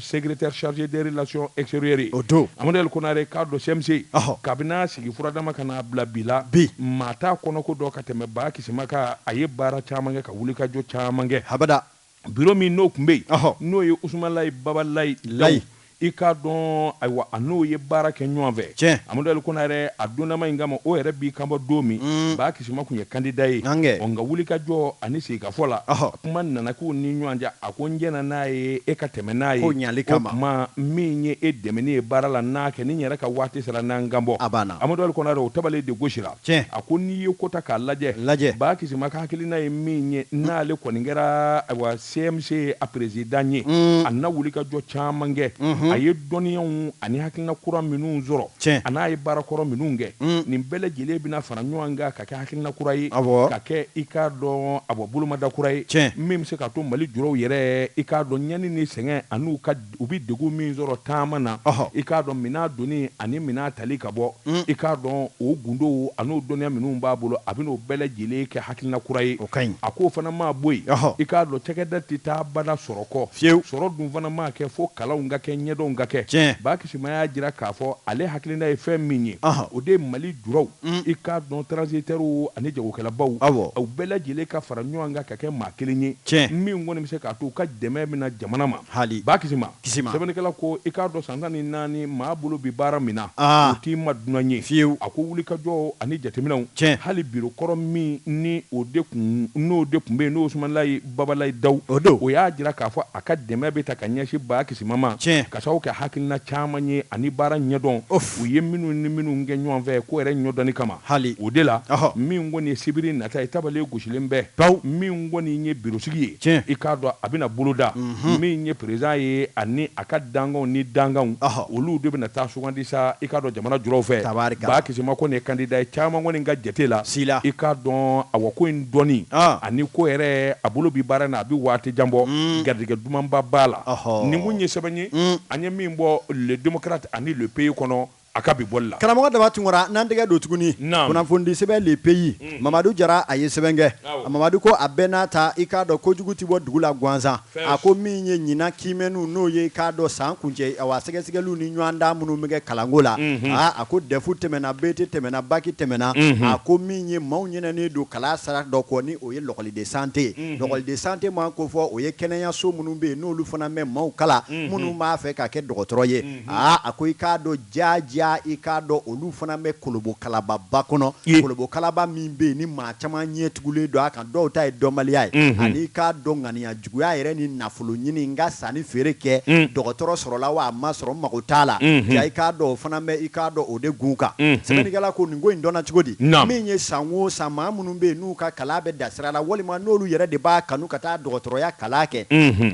secrétaire chargé des relations extérieures o don Amaduli Konare k'a dɔn CMC kabini a sigi furadama ka n'a bila bi la maa t'a kɔnɔko dɔn ka tɛmɛ Ba Kisima kan a ye baara caman kɛ ka wulikajɔ caman kɛ habada biro min n'o tun bɛ yen n'o ye Usumalayi Babalayi Layi i k'a dɔn ayiwa a n'o ye baara kɛ ɲɔgɔn fɛ tiɲɛ Amaduli Konare a dondama in kama o yɛrɛ b'i kanbɔ don min Ba Kisima tun ye kandida ye o nka wulikajɔ ani sigikafɔ la kuma nana k'u ni ɲɔgɔn cɛ a ko n jɛnna n'a ye e ka tɛmɛ n'a ye ɲali ka kuma min ye e dɛmɛni ye baara la n'a kɛ ni n yɛrɛ ka waati sera n na n kanbɔ a banna Amaduli Konare o tabale de gosira tiɲɛ a ko n'i ye ko ta k'a lajɛ Ba Kisima ka hakilina ye min ye n'ale kɔni kɛra CMC a perezidan ye, a na wulikajɔ caman kɛ, a ye dɔnniyaw ani hakilina kura minnu sɔrɔ, tiɲɛ, a n'a ye baara kɔrɔ minnu kɛ, nin bɛɛ lajɛlen bɛna fara ɲɔgɔn kan ka kɛ hakilina kura ye, awɔ, ka kɛ i k'a dɔn a bɔ bolomada kura ye, tiɲɛ, min bɛ se k'a to Mali juraw yɛrɛ i k'a dɔn ɲani ni sɛgɛn an'u ka U bɛ degun min sɔrɔ taama na i k'a dɔn minɛn doni ani minɛn tali ka bɔ i k'a dɔn o gundow an'o dɔnniya minnu b'a bolo a bɛn'o bɛɛ lajɛlen kɛ hakilina kura ye o ka ɲi a ko o fana ma bɔ yen i k'a dɔn cakɛda tɛ taa abada sɔrɔ kɔ fewu sɔrɔ dun fana maa kɛ fo kalanw ka kɛ ɲɛdɔnw ka kɛ tiɲɛ Ba Kisima y'a jira k'a fɔ ale hakilina ye fɛn min ye o de ye Mali juraw i k'a dɔn transitɛriw ani jagokɛlabaw u bɛɛ lajɛlen ka fara ɲɔgɔn kan ka kɛ maa kelen ye tiɲɛ min kɔni bɛ se k'a to u ka dɛmɛ min na jamana ma Hali Ba Kisima Kisima sɛbɛnnikɛla ko i k'a dɔn san tan ni naani maa bolo bi baara min na o t'i ma dunan ye fiyewu a ko wulikajɔ ani jateminɛw tiɲɛ hali biro kɔrɔ min ni o de kun n'o de kun bɛ yen n'o Usumanilayi Babalayi Dawu o don o y'a jira k'a fɔ a ka dɛmɛ bɛ ta ka ɲɛsin Ba Kisima ma tiɲɛ ka sababu kɛ hakilina caman ye ani baara ɲɛdɔn u ye minnu ni minnu kɛ ɲɔgɔn fɛ ko yɛrɛ ɲɔdɔnni kama hali o de la min kɔni ye sibiri nata ye tabale gosilen bɛ pewu min kɔni ye birosigi ye Tiɲɛ. I k'a dɔn a bɛna boloda min ye perezidan ye ani a ka dankanw ni dankanw, olu de bɛna taa sugandi sa, i k'a dɔn jamana julaw fɛ. Tabaarikala. Ba Kisima kɔni ye kandida ye caman kɔni ka jate la. Si la. I k'a dɔn awa ko in dɔnni ani ko yɛrɛ a bolo bi baara in na a bɛ waati jan bɔ, garijɛgɛ dumanba b'a la. Ɔhɔ! Nin kun ye sɛbɛn ye an ye min bɔ Le Democrate ani Le Pays kɔnɔ. A ka bi bɔli la. Karamɔgɔ Daba Tunkara, n'an tɛgɛ don tuguni, naamu, kunnafonidi sɛbɛn Le Pays, unhun, Mamadu Jara a ye sɛbɛn kɛ, awɔ, Mamadu ko a bɛɛ n'a ta, i k'a dɔn ko jugu tɛ bɔ dugu la gansan, fɛn si, a ko min ye ɲinan kiimɛniw n'o ye i k'a dɔn san kuncɛ awa sɛgɛsɛgɛliw ni ɲɔgɔndan minnu bɛ kɛ kalanko la, unhun, aa a ko DEF tɛmɛna, BT tɛmɛna, BAC tɛmɛna, unhun, a ko min ye maaw ɲinɛnen don kalan sira dɔ kɔ ni o ye l'école de santé, unhun, l'école de santé mana kofɔ o ye kɛnɛyaso minnu bɛ yen n'olu fana bɛ maaw kalan, unhun, minnu b'a fɛ ka kɛ dɔgɔtɔrɔ ye. aa a ko i k'a dɔn jaajaa i k'a dɔn olu fana bɛ kolobokalababa kɔnɔ Ye. kolobokalaba min bɛ yen ni maa caman ɲɛ tugulen don a kan dɔw ta ye dɔnbaliya ye Mhm. ani i k'a dɔn ŋaniya juguya yɛrɛ ni nafoloɲini n ka sanni feere kɛ Mm. dɔgɔtɔrɔ sɔrɔla wa a ma sɔrɔ n mago t'a la Mhm. jaa i k'a dɔn o fana bɛ i k'a dɔn o de gun kan Mhm. sɛbɛnnikɛla ko nin ko in dɔnna cogo di Naamu. min ye san o san maa minnu bɛ yen n'u ka kalan bɛ da sira la walima n'olu yɛrɛ de b'a kanu ka taa dɔgɔtɔrɔya kalan kɛ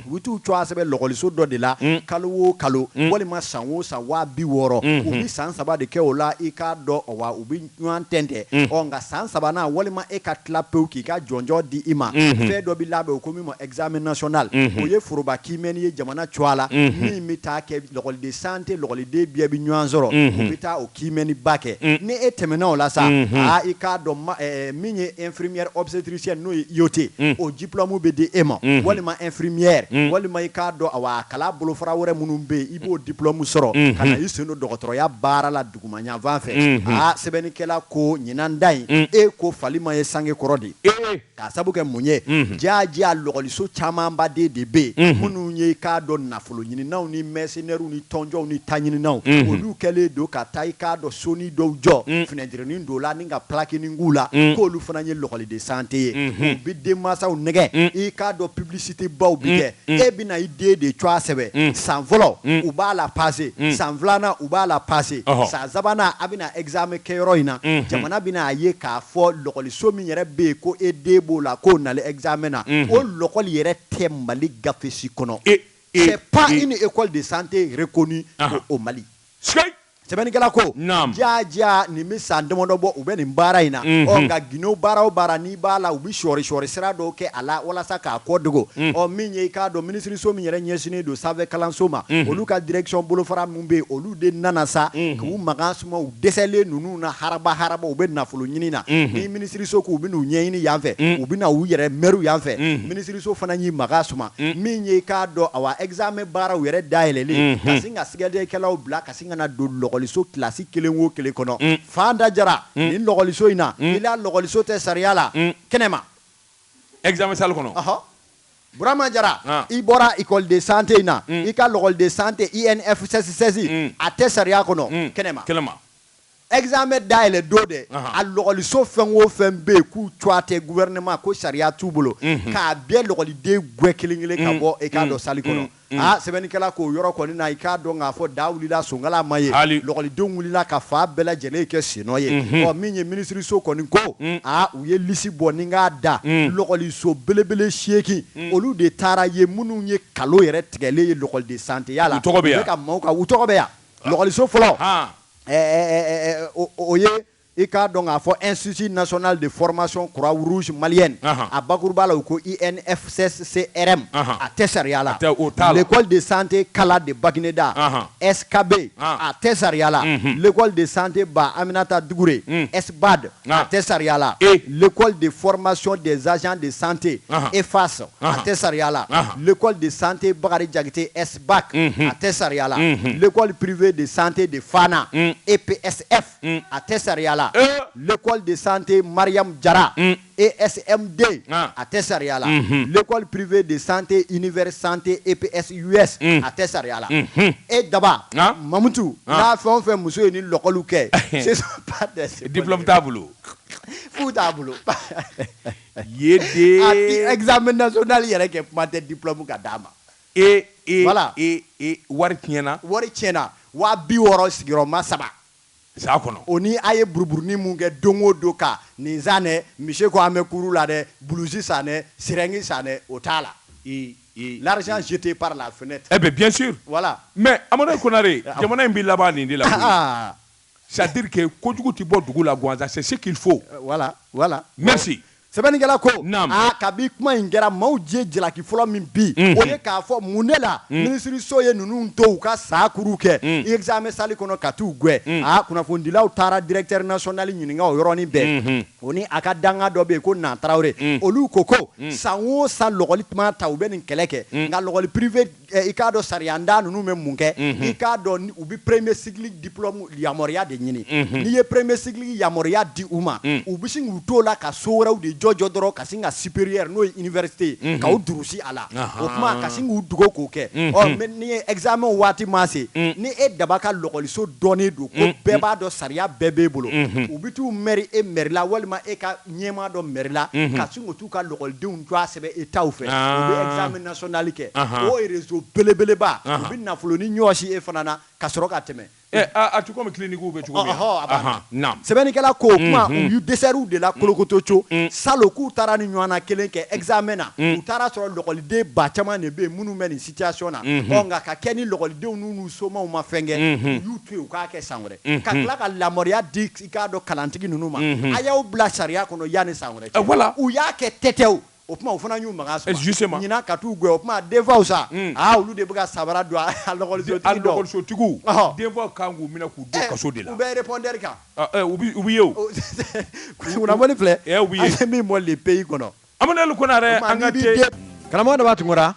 u bɛ t'u cwa sɛbɛn lɔgɔliso dɔ de la kalo o kalo walima san o san waa biwɔɔrɔ u bɛ san saba de kɛ o la i k'a dɔn awa u bɛ ɲɔgɔn tɛntɛn ɔ nka san sabanan walima e ka tila pewu k'i ka jɔnjɔn di i ma fɛn dɔ bɛ labɛn u ko min ma examen national o ye foroba kiimɛni ye jamana cwa la min bɛ taa kɛ lɔgɔli de sante lɔgɔliden bɛɛ bɛ ɲɔgɔn sɔrɔ u bɛ taa kiimɛniba kɛ mm. ni e tɛmɛna o la sa mhm. aa i k'a dɔn eh, eh, min ye infirmière obstétricienne n'o ye IOT mm. o diplôme bɛ di e ma mhm. walima infirmière mm. walima i k'a dɔn awa a kalan bolofara wɛrɛ minnu bɛ yen i b'o diplôme sɔrɔ mhm. ka na i sen don dɔgɔtɔrɔya baara la duguma yanfan fɛ aa sɛbɛnnikɛla ko ɲinan ta in e ko fali ma ye sange kɔrɔ de ye K'a sabu kɛ mun ye? Unhun. Jaaja lɔgɔliso camanba de de bɛ yen. Unhun. Minnu ye i k'a dɔn nafoloɲininaw ni mɛsenɛriw ni tɔnjɔnw ni taɲininaw. Unhun. Olu kɛlen don ka taa i k'a dɔn sonin dɔw jɔ. Un. Finɛtirinin don u la ni ka pilakinin k'u la. Un. K'olu fana ye lɔgɔli de sante ye. Unhun. U bɛ denmansaw nɛgɛ. Un. I k'a dɔn piblisitebaw bɛ kɛ. Un. Un. E bɛna i den de cwa sɛbɛn. Un. San fɔlɔ. Un. U b'a lapase. Un. San filanan u b'a lapase. Ɔhɔ. San sabanan a bɛna ɛkizame kɛyɔrɔ in na. Unhun. Jamana bɛna a ye k'a fɔ lɔgɔli. so min yɛrɛ bɛ yen ko e den b'o la k'o nalen examen na o lɔkɔli yɛrɛ tɛ Mali gafe si kɔnɔ c'est pas une école de santé reconnue au Mali sɛbɛnnikɛla ko jaaja nin bɛ san damadɔ bɔ u bɛ nin baara in na ɔ nka gindo baara o baara n'i b'a la u bɛ sɔɔri-sɔɔri sira dɔw kɛ a la walasa k'a kɔ dogo ɔ min ye i k'a dɔn minisiriso min yɛrɛ ɲɛsinnen don sanfɛ kalanso ma olu ka direction bolofara min bɛ yen olu de nana sa k'u makan u dɛsɛlen ninnu na haraba haraba u bɛ nafolo ɲini na ni minisiriso k'u bɛna u ɲɛɲini yan fɛ u bɛna u yɛrɛ mɛru yan fɛ minisiriso fana y'i makan suma min ye k'a dɔn awa examen baaraw yɛrɛ dayɛlɛlen ka sin ka sɛgɛsɛgɛlikɛlaw bila ka sin ka na don lɔgɔliso kilasi kelen o kelen kɔnɔ Fanta Jara nin lɔgɔliso in na i la lɔgɔliso tɛ sariya la kɛnɛma examen sali kɔnɔ Burama Jara, ah. i bɔra école de santé in na, mm. i ka l'école de santé INFCC mm. a tɛ sariya kɔnɔ mm. kɛnɛma. Kɛnɛma. Examen dayɛlɛ don dɛ, a lɔgɔliso fɛn o fɛn bɛ yen k'u cogoya tɛ gouvernement ko sariya t'u bolo, mm-hmm. k'a bɛɛ lɔgɔliden gɛn kelen kelen ka mm. bɔ i k'a dɔn mm. salle kɔnɔ. aa sɛbɛnnikɛla k'o yɔrɔ kɔni na i k'a dɔn k'a fɔ da wulila sonkala ma ye Hali. lɔgɔlidenw wulila ka fan bɛɛ lajɛlen kɛ sennɔ ye ɔ min ye minisiriso kɔni ko aa u ye lisi bɔ ni k'a da lɔgɔliso belebele seegin olu de taara ye minnu ye kalon yɛrɛ tigɛlen ye lɔgɔli de santéya la U tɔgɔ bɛ yan? u bɛ ka maaw ka u tɔgɔ bɛ yan lɔgɔliso fɔlɔ Han. ɛ, ɛ, ɛ, ɛ, ɛ, o, o ye I k'a dɔn k'a fɔ Institut national de formation croix rouge malienne Anhan, a bakurubaya la, u ko INFCCRM Anhan, a tɛ sariya la, a tɛ, o t'a la, l'école de santé kala de Baguineda Anhan, SKB Anhan, a tɛ sariya la, unhun, l'école de santé ba Aminata Dukure un, SBAD Anhan, a tɛ sariya la, e l'école de formation des agents de santé Anhan, EFAS Anhan, a tɛ sariya la, Anhan, l'école de santé Bakari Jakite SBAC unhun, a tɛ sariya la, unhun, l'école privée de santé de Fana un, EPSF un, a tɛ sariya la Ee. l'école de santé Mariam Jara un, ESMD Ah. a tɛ sariya la Mhm. l'école privée de santé univers santé EPSUS Mm. a tɛ sariya la Mhm. e daba Ah. mamutu Ah. n'a fɛn o fɛn muso ye nin lɔkɔliw kɛ ce sont pas des diplôme t'a bolo fu t'a bolo ye dɛ a ti examen national yɛrɛ kɛ kuma tɛ diplôme ka d'a ma E e Voilà. e e wari tiɲɛna wari tiɲɛna waa bi wɔɔrɔ sigiyɔrɔma saba san kɔnɔ o ni a ye buruburunin mun kɛ don o don ka nin san dɛ monsieur ko an bɛ kuru la dɛ bulusi san dɛ sirɛngi san dɛ o t'a la i i l'argent jeté par la fenêtre eh bien bien sûr voilà mais Amadu Konare jamana in bɛ laban nin de la koyi. C'est-à-dire que kojugu tɛ bɔ dugu la gansan c'est ce qu'il faut voilà voilà sɛbɛnnikɛla ko kabi kuma in kɛra maaw ye jalaki fɔlɔ min bin o ye k'a fɔ mun ne la minisiriso ye ninnu to u ka san kuuru kɛ examen salle kɔnɔ ka taa u gɛn aa kunnafonidilaw taara directeur national ɲininka o yɔrɔnin bɛɛ o ni a ka dankan dɔ bɛ yen ko Na Tarawele olu ko ko san o san lɔgɔli tuma ta u bɛ nin kɛlɛ kɛ nka lɔgɔli privé eh, i k'a dɔn sariyantan ninnu bɛ mun kɛ mhm. i k'a dɔn u bɛ premier cycle diplôme yamaruya de ɲini mhm. n'i ye premier cycle yamaruya di u ma mhm. u bɛ sin k'u t'o la ka so wɛrɛw de jɔjɔ dɔrɔn ka sin ka supérieur n'o ye université ye ka u durusi a la o tuma ka sin k'u dogo k'o kɛ ɔ mais n'i ye examen waati ma se ni e Daba ka lɔgɔliso dɔnnen don ko bɛɛ b'a dɔn sariya bɛɛ b'e bolo u bɛ t'u mɛri e mɛri la walima e ka ɲɛmaa dɔ mɛri la ka sin k'u k'u ka lɔkɔlidenw tɔgɔ sɛbɛn Etat fɛ, aa, u bɛ examen national kɛ, anhan, o réseau belebeleba, anhan, u bɛ nafolonin ɲɔɔsi e fana na ka sɔrɔ ka tɛmɛ, ɛ a tɛ comme clinique bɛ cogo min, ɔhɔ, a banna, naamu, sɛbɛnnikɛla k'o tuma u y'u dɛsɛra u de la kolokotoco, salon k'u taara nin ɲɔɔnna kelen kɛ examen na, u taara sɔrɔ lɔkɔliden ba caman de bɛ yen minnu bɛ nin situation na, ɔ nka ka kɛ ni lɔkɔlidenw ninnu somaw ma fɛn kɛ, u y'u to yen u k'a kɛ san wɛrɛ ka tila ka yamaruya di i k'a dɔn kalantigi ninnu ma a y'aw bila sariya kɔnɔ yanni san wɛrɛ cɛ u y'a kɛ tɛtɛw o tuma u fana y'u makan sɔrɔ ɲinan ka t'u gɛn o tuma denfaw sa aa olu de bɛ ka sabara don a lɔgɔlisotigiw denfaw kan k'u minɛ k'u don kaso de la u bɛ répondeur kan u bɛ ye o kunnafoni filɛ u ye min bɔ Le Pays kɔnɔ Amadu Konarɛ an ka karamɔgɔ Daba Tunkara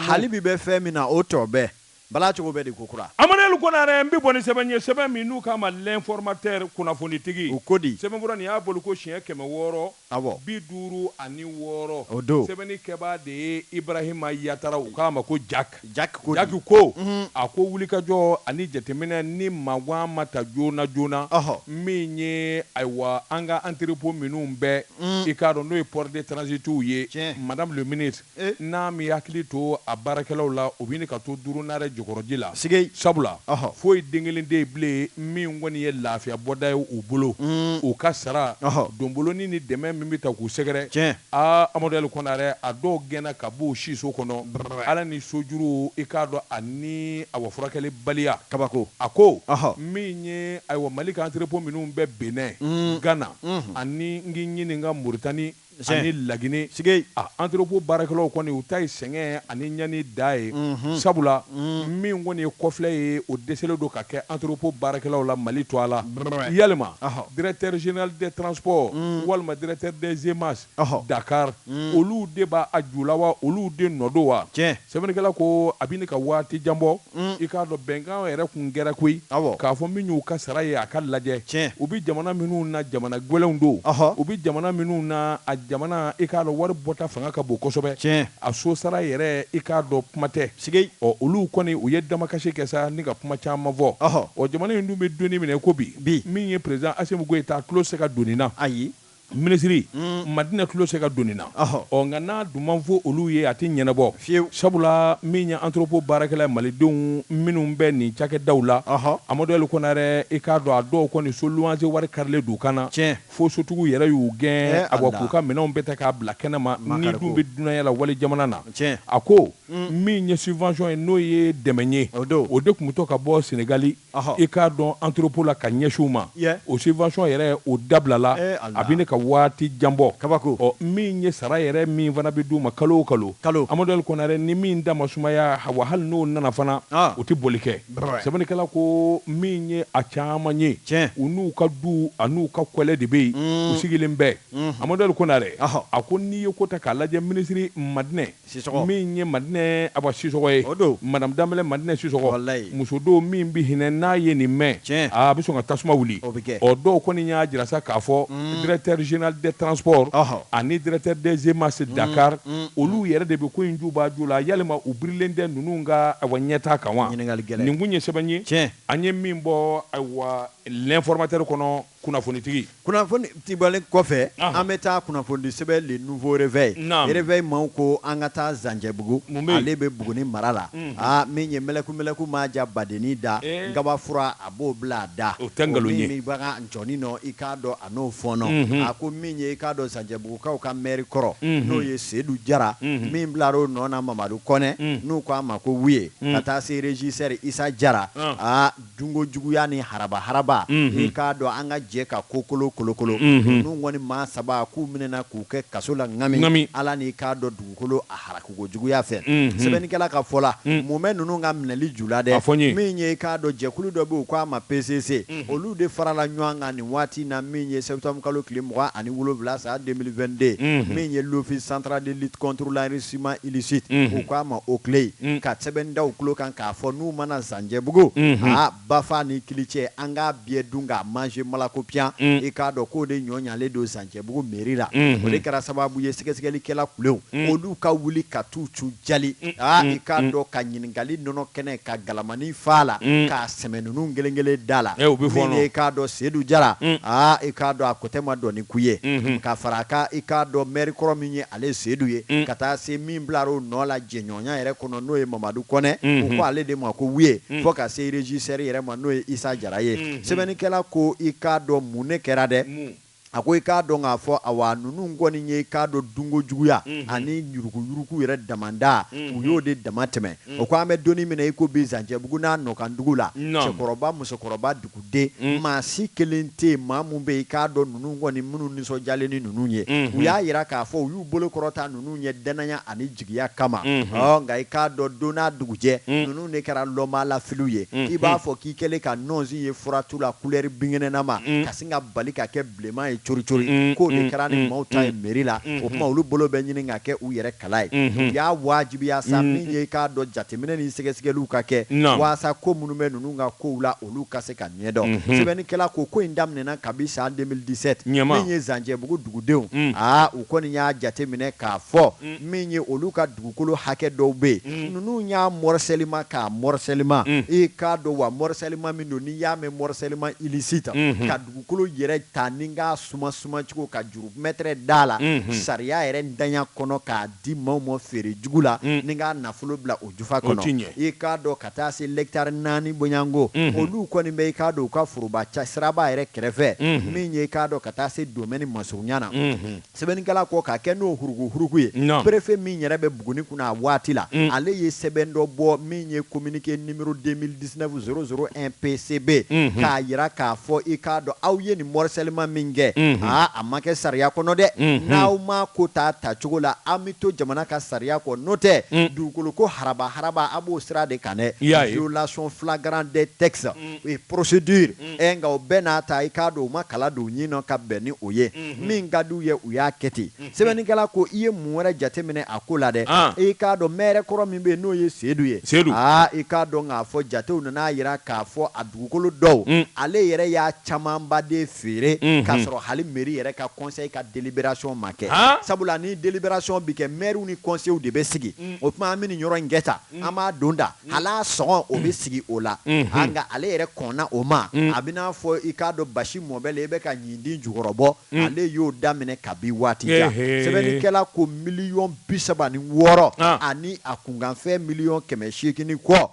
hali bi bɛ fɛn min na o tɔ bɛɛ Bala cogo bɛɛ de ko kura. Amadu Ali Konarɛ, N bɛ bɔ ni sɛbɛn ye, sɛbɛn min n'u k'a ma L'informateur, Kunnafonitigi. O ko di? Sɛbɛnfura nin y'a bɔliko siɲɛ kɛmɛ wɔɔrɔ, bi duuru ani wɔɔrɔ. O don. Sɛbɛnnikɛbaa de ye Ibrahima Yatara, u k'a ma ko Jak. Jak ko di? Jak ko, A ko wulikajɔ ani jateminɛ ni magan ma ta joonajoona, min ye, ayiwa, an ka entrepôt minnu bɛ, i k'a dɔn n'o ye port de transitw ye, Madame le ministre, E n'a m'i hakili to a baarakɛlaw la, u b'i ni ka to Duurunaarɛ jɔkɔrɔji la. Sigei! Sabula, foyi den kelen tɛ yen bilen min kɔni ye lafiya bɔda ye u bolo, u ka sara, donboloni ni dɛmɛ min bɛ ta k'u sɛgɛrɛ. Tiɲɛ! Aa Amadu Ali Kɔnarɛ, a dɔw gɛnna ka b'u siso kɔnɔ, Ala ni sojuru, i k'a dɔn ani ayiwa furakɛlibaliya. Kabako! A ko, Min ye ayiwa Mali ka entrepôt minnu bɛ Benin, Ghana, ani n k'i ɲininka Mauritanie, Ni Laginɛ entrepôt baarakɛlaw kɔni u ta ye sɛgɛn ani ɲani dan ye sabula min kɔni ye kɔfilɛ ye o dɛsɛlen don ka kɛ entrepôt baarakɛlaw la Mali to a la yalima directeur général des transports walima directeur des EMASE Dakar olu de b'a ju la wa olu de nɔ don wa sɛbɛnnikɛla ko a bɛ ka waati jan bɔ i k'a dɔn bɛnkan yɛrɛ tun kɛra koyi k'a fɔ min y'u ka sara ye a ka lajɛ u bɛ jamana minnu na jamana gɛlɛnw don u bɛ jamana minnu na a jamana i k'a dɔn wari bɔta fanga ka bon kosɛbɛ tiɲɛ a so sara yɛrɛ i k'a dɔn kuma tɛ sigi ɔ olu kɔni u ye damakasi kɛ sa ni ka kuma caman fɔ ɔ jamana in dun bɛ don min na i ko bi bi min ye president Asimi Goyita tulo se ka don nin na ayi Minisiri, un, Madina tulo se ka don nin na, ɔhɔ, ɔ nka n'a dun ma fɔ olu ye a tɛ ɲɛnabɔ fiyewu, sabula min ye entrepot baarakɛla Malidenw minnu bɛ nin cakɛdaw la, ɔhɔ, Amadu Ali Konare, i k'a dɔn a dɔw kɔni so luwanse wari karilen don u kan na, tiɲɛ, fo sotigiw yɛrɛ y'u gɛn, ee Ala, awa, k'u ka minɛnw bɛɛ ta k'a bila kɛnɛma, n'i dun bɛ dunanya la walijamana na, tiɲɛ, a ko, un, min ye subvention ye n'o ye dɛmɛ ye, o don, o de tun bɛ to ka bɔ Senegali, i k'a dɔn entrepot la ka ɲɛsin u ma, o subvention yɛrɛ o dabilala a bɛ ɲini ka waati jan bɔ, kabako, ɔ min ye sara yɛrɛ min fana bɛ d'u ma kalo o kalo, kalo, Amadu Ali Konare ni min da ma sumaya, wa hali n'o nana fana o tɛ bɔli kɛ, sɛbɛnnikɛla ko min ye a caman ye, tiɲɛ, u n'u ka duw an'u ka kɔlɛ de bɛ yen u sigilen bɛ, Amadu Ali Konare, a ko n'i ye ko ta k'a lajɛ minisiri Madinɛ Sisɔkɔ min ye Madinɛ Aba Sisɔkɔ ye, o don, madame Danbɛlɛ Madinɛ Sisɔkɔ, walayi, muso don min bɛ hinɛ n'a ye nin mɛn, tiɲɛ, aa a bɛ sɔn ka tasuma wuli, o bɛ kɛ, ɔ dɔw kɔni y'a jira sa k'a fɔ directeur general des transports ɔhɔ, ani directeur des EMASE Dakar olu yɛrɛ de bɛ ko in juba ju la yalima u birilen tɛ ninnu ka ayiwa ɲɛtaa kan wa, ɲininkali gɛlɛn, nin tun ye sɛbɛn ye, tiɲɛ, an ye min bɔ ayiwa l'informateur kɔnɔ. Kunnafonitigi, kunnafonidibaa, ale kɔfɛ, an bɛ taa kunnafonidi sɛbɛn Le Nouveau Reveil, Reveil maaw ko an ka taa Zancɛbugu, ale bɛ Buguni mara la, aa min ye mɛlɛkumɛlɛku ma ja badennin da, nkabafura a b'o bila a da, o tɛ nkalon ye, min bɛ bagan ncɔni nɔ i k'a dɔn a n'o fɔɔnɔ, a ko min ye i k'a dɔn Zancɛbugukaw ka maire kɔrɔ n'o ye Sedu Jara, min bilara o nɔ na Mamadu Kɔnɛ n'u k'a ma ko Wuye ka taa se regisseur Isa Jara, aa Dunko juguya ni haraba haraba, unhun, i k'a dɔn an ka jɛ ka kokolo kolokolo, unhun, ninnu kɔni maa saba k'u minɛna k'u kɛ kaso la ŋami, ŋami, Ala ni k'a dɔn dugukolo a harakiko juguya fɛ, unhun, sɛbɛnnikɛla ka fɔ la, un, mun bɛ ninnu ka minɛli ju la dɛ, a fɔ n ye, min ye i k'a dɔn jɛkulu dɔ bɛ yen u k'a ma PCC, unhun, olu de farala ɲɔgɔn kan nin waati in na min ye septembre kalo tile mugan ani wolonwula san 2022, unhun, min ye l'office central de lutte contre l'enrichissement illicite, unhun, u k'a ma OCLEI, un, ka sɛbɛn da u tulo kan k'a fɔ n'u ma na Zan cɛbugu bafa ni kilicɛ an k'a biyɛ dun k'a manger malakopiyan i k'a dɔn k'o de ɲɔ ɲalen don Zancɛbugu mairie la o de kɛra sababu ye sɛgɛsɛgɛlikɛla OCLEI olu ka wuli ka t'u cun jali aa i k'a dɔn ka ɲininkali nɔnɔ kɛnɛ ka galamanin fa la k'a sɛmɛ ninnu kelen kelen da la min ye i k'a dɔn Sedu Jara aa i k'a dɔn a kotɛ ma dɔn ni ku ye ka fara i k'a dɔn maire kɔrɔ min ye ale Seyidu ye ka taa se min bilara o nɔ la jɛɲɔgɔn Ɲɔgɔnya yɛrɛ kɔnɔ n'o ye Mamadu Kɔnɛ, unhun, u ko ale de ma ko Wiye, unhun, fɔ ka se régisseur yɛrɛ ma n'o ye Issa Jara ye, unhun, sɛbɛnnikɛla ko i k'a dɔn mun de kɛra dɛ, mun? a ko i k'a dɔn k'a fɔ awa ninnu kɔni ye i k'a dɔn dunkojuguya, unhun, ani yuruguyurugu yɛrɛ damadɔ, unhun, u y'o de damatɛmɛn, unhun, o ko an bɛ don min na i ko bi Zancɛbugu n'a nɔkandugu la, naamu, cɛkɔrɔba musokɔrɔba dugu den maa si kelen tɛ yen maa min bɛ i k'a dɔn ninnu kɔni minnu nisɔndiyalen ni ninnu ye u y'a jira k'a fɔ u y'u bolo kɔrɔta ninnu ye dannaya ani jigiya kama nka i k'a dɔn don n'a dugujɛ ninnu de kɛra lɔnbaalafiliw ye i b'a fɔ k'i kɛlen ka nɔnsi ye furatu la couleur binkɛnɛnama ka sin ka bali ka kɛ bilenman ye cori cori unn k'o de unn kɛra ni maaw ta ye unn mairie la unhun o tuma olu bolo bɛ ɲini ka kɛ u yɛrɛ kala ye unhun u y'a waajibiya sa unn min ye i k'a dɔn jateminɛ ni sɛgɛsɛgɛliw ka kɛ naamu waasa ko minnu bɛ ninnu ka kow la olu ka se ka ɲɛdɔn unhun sɛbɛnnikɛla ko ko in daminɛna kabi san 2017 naamu min ye Zancɛbugu dugudenw unn aa u kɔni y'a jateminɛ k'a fɔ unn min ye olu ka dugukolo hakɛ dɔw bɛ yen unn ninnu y'a morcellement k'a morcellement unn i k'a dɔn wa morcellement min don n'i y'a mɛn morcellement illicite unhun ka dugukolo yɛrɛ ta ni k'a suma sumacogo ka juru mɛtɛrɛ da a la sariya yɛrɛ ntanya kɔnɔ k'a di maaw ma feere jugu la ni k'a nafolo bila o jufa kɔnɔ i k'a dɔn ka taa se lɛkitari naani bɔɲɔnko olu kɔni bɛ i k'a dɔn u ka foroba siraba yɛrɛ kɛrɛfɛ min ye i k'a dɔn ka taa se domɛni masurunya na. Sɛbɛnnikɛla ko k'a kɛ n'o huruku-huruku ye, Naamu. perefe min yɛrɛ bɛ Buguni kunna a waati la, Un. ale ye sɛbɛn dɔ bɔ min ye communiqué numéro 2019 001 PCB, Unhun. k'a jira k'a fɔ i k'a dɔn aw ye nin morcellement min kɛ, Unhun. aa, a ma kɛ sariya kɔnɔ dɛ, Unhun. n'aw m'a ko t'a tacogo la, an bɛ to jamana ka sariya kɔ, n'o tɛ, Un. dugukolo ko haraba-haraba a b'o sira de kan dɛ, I y'a ye. violation flagrant des textes et procédures. ɛ nka o bɛɛ n'a ta i k'a dɔn u ma kala don u ɲin na ka bɛn ni o ye, min ka di u ye u y'a kɛ ten. Sɛbɛnnikɛla ko i ye mun wɛrɛ jateminɛ a ko la dɛ? I k'a dɔn mɛɛrɛ kɔrɔ min bɛ yen n'o ye Seedu ye, aa i k'a dɔn k'a fɔ jatew nana a jira k'a fɔ a dugukolo dɔw ale yɛrɛ y'a camanba de feere k'a sɔrɔ hali meri yɛrɛ ka kɔnsɛyi ka deliberasɔn ma kɛ, sabula ni deliberasɔn bɛ kɛ mɛriw ni kɔnsɛyiw de bɛ sigi, o tuma an bɛ nin yɔrɔ in kɛ tan. an b'a don da hali a sɔngɔ o bɛ sigi o la aa nka ale yɛrɛ kɔnna o ma a bɛ n'a fɔ i k'a dɔn basi mɔbali i bɛ ka ɲintin jukɔrɔ bɔ ale y'o daminɛ kabi waati jan sɛbɛnnikɛla ko miliyɔn bisaba ni wɔɔrɔ ani a kunkanfɛn miliyɔn kɛmɛ seegin ni kɔ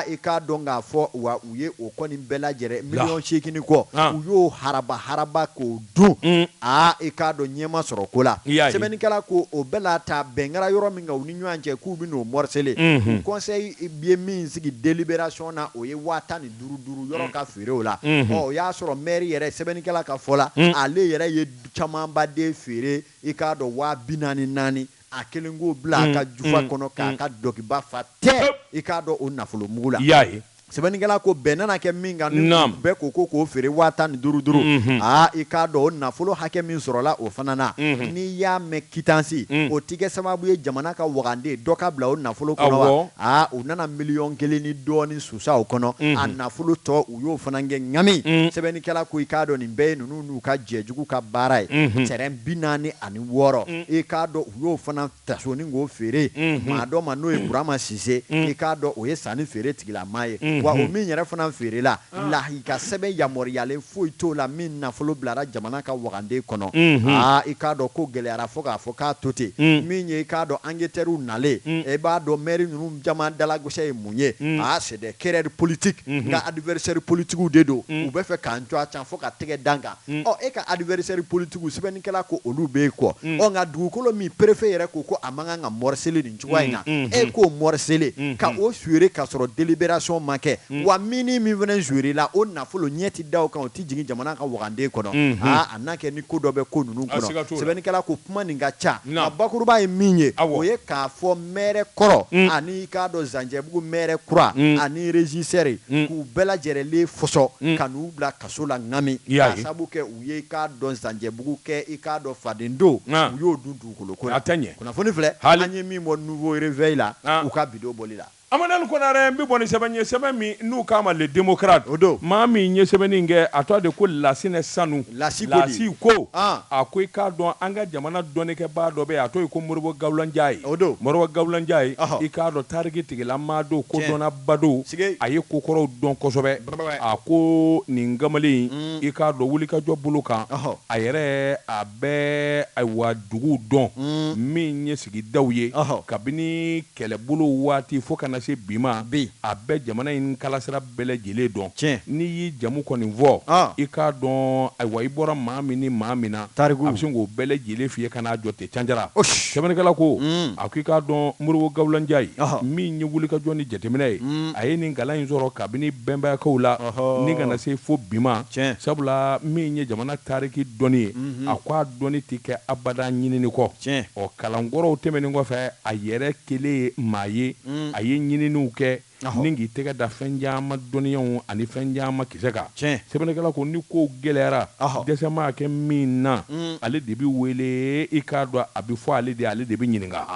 i k'a dɔn k'a fɔ wa u ye o kɔni bɛɛ lajɛlen miliyɔn seegin ni kɔ u y'o haraba haraba k'o dun aa i k'a dɔn ɲɛ ma sɔrɔ ko la sɛbɛnnikɛla ko o bɛɛ la ta bɛnkara yɔrɔ min u ni ɲɔgɔn cɛ k'u bɛ n'o mɔrisele conseil ye min sigi délibération na o ye waa tan ni duuru duuru yɔrɔ ka feere o la o y'a sɔrɔ mɛri yɛrɛ sɛbɛnnikɛla ka fɔ la ale yɛrɛ ye camanba de feere i k'a dɔn waa bi naani naani a kelen k'o bila a ka jufa kɔnɔ k'a ka dɔkiba fa tɛ i k'a dɔn o nafolo mugu la y'a ye sɛbɛnnikɛla ko bɛn nana kɛ min kan ni Naam. bɛɛ ko ko k'o feere waa tan ni duuru duuru Mhm. aa i k'a dɔn o nafolo hakɛ min sɔrɔla o fana na Mhm. n'i y'a mɛn kitansi Mm. o tigɛ sababu ye jamana ka wagande dɔ ka bila o nafolo kɔnɔ Awɔ. wa aa u nana miliyɔn kelen ni dɔɔni susa o kɔnɔ Mhm. a nafolo tɔ u y'o fana kɛ ŋami Mm. sɛbɛnnikɛla ko i k'a dɔn nin bɛɛ ye ninnu n'u ka jɛjugu ka baara ye Mhm. tɛrɛn bi naani ani wɔɔrɔ Mm. i k'a dɔn u y'o fana Ta sɔɔni k'o feere maa dɔ ma n'o ye burama sise i k'a dɔn o ye sannifeere tigilamaa ye wa o min yɛrɛ fana feerela lahi ka sɛbɛn yamaruyalen foyi t'o la min nafolo bilara jamana ka waganden kɔnɔ aa i k'a dɔn ko gɛlɛyayara fo k'a fɔ k'a to ten min ye i k'a dɔn ankɛtɛriw nalen i b'a dɔn mɛri ninnu caman dalagosi ye mun ye aa c'est des querelles politiques nka adversaire politigiw de don u bɛ fɛ k'an tɔgɔ cɛn fo ka tɛgɛ da an kan Unhun. Ɔ e ka adversaire politiques sɛbɛnnikɛla ko olu b'e kɔ. Ɔ nka dugukolo min perefe yɛrɛ ko ko a man kan ka mɔrisele nin cogoya in na, e k'o mɔrisele, ka o feere k'a sɔrɔ deliberation ma kɛ, wa min ni min fana feerela, o nafolo ɲɛ tɛ da o kan, o tɛ jigin jamana ka waganden kɔnɔ. Aa a n'a kɛ ni ko dɔ bɛ ko ninnu kɔnɔ. A siga t'o la. Sɛbɛnnikɛla ko kuma nin ka ca. Naamu. Nka bakuruba ye min ye, Awɔ. o ye k'a fɔ mɛɛrɛ kɔrɔ ani i k'a dɔn Zancɛbugu mɛɛrɛ kura ani regisseur k'u bɛɛ lajɛrɛlen fɔsɔ ka n'u bila ka kaso la Ngami, i y'a ye, k'a sababu kɛ u ye i k'a dɔn Zanjɛbugu kɛ i k'a dɔn fadendo, an, u y'o dun dugukolo ko la, a tɛ ɲɛ, kunnafoni filɛ, haali, an ye min bɔ Nouveau Reveil la, an, u ka bi don bɔli la. Amanɛli Konarɛ, n bɛ bɔ ni sɛbɛn ye, sɛbɛn min n'u k'a ma Le Démocrate, o don, maa min ye sɛbɛnni in kɛ, a tɔgɔ de ko Lasinɛ Sanu, Lasi ko di? Lasi ko, an, a ko i k'a dɔn an ka jamana dɔnnikɛbaa dɔ bɛ yen, a tɔgɔ ye ko Moribo Gawula Njayi, o don, Moribo Gawula Njayi, ɔhɔ, i k'a dɔn tariki tigilamaa don, kodɔnnaba don, sikeyi, a ye ko kɔrɔw dɔn kosɛbɛ. a ko nin kamalen i k'a dɔn wulikajɔ bolo kan a yɛrɛ a bɛ ayiwa duguw dɔn min ye sigidaw ye kabini kɛlɛbolo waati fo ka na se bi ma a bɛ jamana in kalasira bɛɛ lajɛlen dɔn tiɲɛ n'i y'i jamu kɔni fɔ i k'a dɔn ayiwa i bɔra maa min ni maa min na a bɛ se k'o bɛɛ lajɛlen f'i ye ka n'a jɔ ten Canjara sɛbɛnnikɛla ko a ko i k'a dɔn Moribo Gawula Njayi ye min ye wulikajɔ ni jateminɛ ye a ye nin kalan in sɔrɔ kabini bɛnbayakaw la ni ka na se fo bi ma sabula min ye jamana taariki dɔnni ye a ko a dɔnni tɛ kɛ abada ɲinini kɔ ɔ kalan kɔrɔw tɛmɛnen kɔfɛ a yɛrɛ kɛlen ye maa ye a ye ɲininiw kɛ ni k'i tɛgɛ da fɛn caman dɔnniyaw ani fɛn caman kisɛ kan sɛbɛnnikɛla ko ni ko gɛlɛyara dɛsɛ maa kɛ min na ale de bɛ wele i k'a dɔn a bɛ fɔ ale de ale de bɛ ɲininka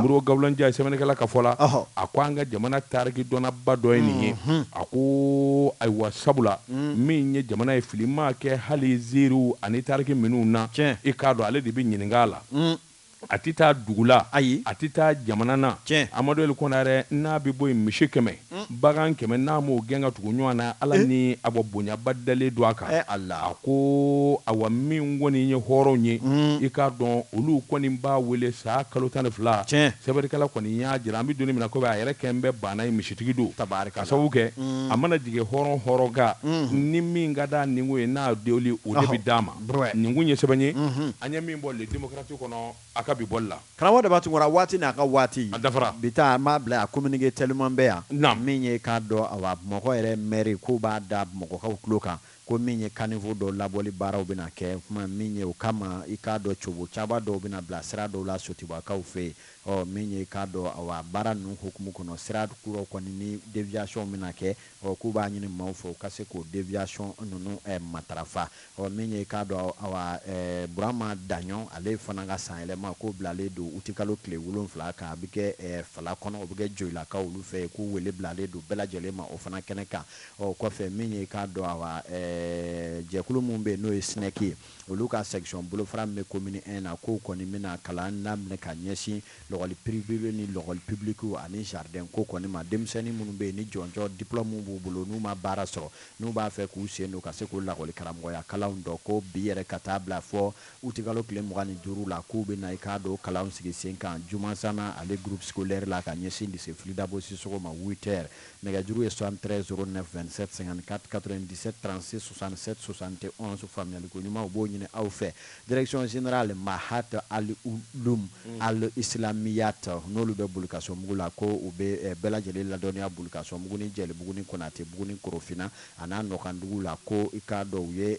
mori gawula njaye sɛbɛnnikɛla ka fɔ la a ko an ka jamana tariki dɔnnaba dɔ ye nin ye a ko ayiwa sabula min ye jamana ye fili maa kɛ hali ziiriw ani tariki minnu na i k'a dɔn ale de bɛ ɲininka la A tɛ taa dugu la, ayi, a tɛ taa jamana na, tiɲɛ, Amadu Eli Kɔnarɛ n'a bɛ bɔ yen misi kɛmɛ, bagan kɛmɛ n'a m'o gɛn ka tugu ɲɔgɔn na, Ala ni awa bonyaba dalen don a kan, ɛɛ Ala, a ko awa minw kɔni ye hɔrɔnw ye, i k'a dɔn olu kɔni b'a wele san kalo tan ni fila, tiɲɛ, sɛbɛnnikɛla kɔni y'a jira an bɛ don min na komi a yɛrɛ kɛn bɛ baana ye misitigi don, tabaarikala, k'a sababu kɛ a mana jigin hɔrɔn hɔrɔn kan ni min ka d'a ninko ye n'a deli o de bɛ d'a ma. Nin kun ye sɛbɛn ye an ye min bɔ Le Démocrate kɔnɔ a ka bi bɔli la karamɔgɔ Daba Tunkara waati n'a ka waati a dafara bi taa an b'a bila a communiqué teliman bɛ yan na min ye k'a dɔn awa Bamakɔ yɛrɛ mɛri k'u b'a da Bamakɔkaw tulo kan ko min ye caniveau dɔ labɔli baaraw bɛna kɛ kuma min ye o kama i k'a dɔn cogo caba dɔw bɛna bila sira dɔw la Sotubakaw fɛ yen ɔ min ye k'a dɔn awa baara ninnu hukumu kɔnɔ sira kura kɔni ni deviation bɛna kɛ ɔ k'u b'a ɲini maaw fɛ u ka se k'o deviation ninnu matarafa, ɔ min ye i k'a dɔn awa Burama Daɲɔn ale fana ka sanyɛlɛma k'o bilalen don utikalo tile wolonwula kan, a bɛ kɛ Fala kɔnɔ, o bɛ kɛ Joyilakaw olu fɛ yen, k'u wele bilalen don bɛɛ lajɛlen ma o fana kɛnɛ kan, ɔ kɔfɛ min ye i k'a dɔn awa jɛkulu min bɛ yen n'o ye Snec ye olu ka section bolofara min bɛ commune I na k'o kɔni bɛna kalan daminɛ ka ɲɛsin Lakɔli piriwew ni lakɔli pibilikiw ani jaridɛn ko kɔni ma, denmisɛnni minnu bɛ yen ni jɔnjɔn, diplɔmu, b'u bolo n'u ma baara sɔrɔ, n'u b'a fɛ k'u sen don ka se k'u lakɔlikaramɔgɔya kalanw dɔn ko bi yɛrɛ ka taa bila fɔ utikalo tile mugan ni duuru la, k'u bɛna i k'a dɔn o kalanw sigi sen kan Jumansana ale groupe scolaire la ka ɲɛsin lycée Fili Dabo Sisoko ma huit heures. Nɛgɛjuru ye 73 09 27 54 97 36 67 71 faamuyaliko ɲuman u b'o ɲini aw fɛ. Direction Generale Mahad al-Uloum al-Islamiyat n'olu bɛ Bulukasɔnbugu la ko u bɛ bɛɛ lajɛlen ladɔnniya Bulukasɔnbugu ni Jɛlibugu ni Konatebugu ni Korofina an'a nɔkanduguw la ko i k'a dɔn u ye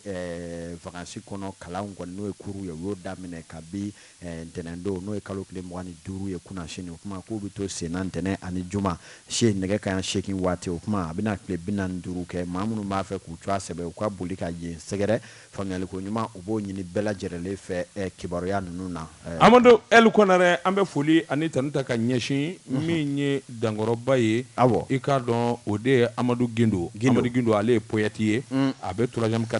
vakansi kɔnɔ kalanw kɔni n'o ye kuruw ye u y'o daminɛ kabi ntɛnɛndon n'o ye kalo tile mugan ni duuru ye kunnasini o tuma k'o bɛ to senna ntɛnɛn ani juma cɛ nɛgɛ kanɲɛ seegin waati o tuma a bɛna tile bi naani ni duuru kɛ maa minnu b'a fɛ k'u tɔgɔ sɛbɛn u ka boli ka yen sɛgɛrɛ Faamuyaliko ɲuman u b'o ɲini bɛɛ lajɛrɛlen fɛ kibaruya ninnu na. Amadu L. Kɔnarɛ an bɛ foli ani tanu ta ka ɲɛsin min ye dankɔrɔba ye, awɔ, i k'a dɔn o de ye Amadu Gindo, Amadu Gindo ale ye poète ye, a bɛ troisième quartier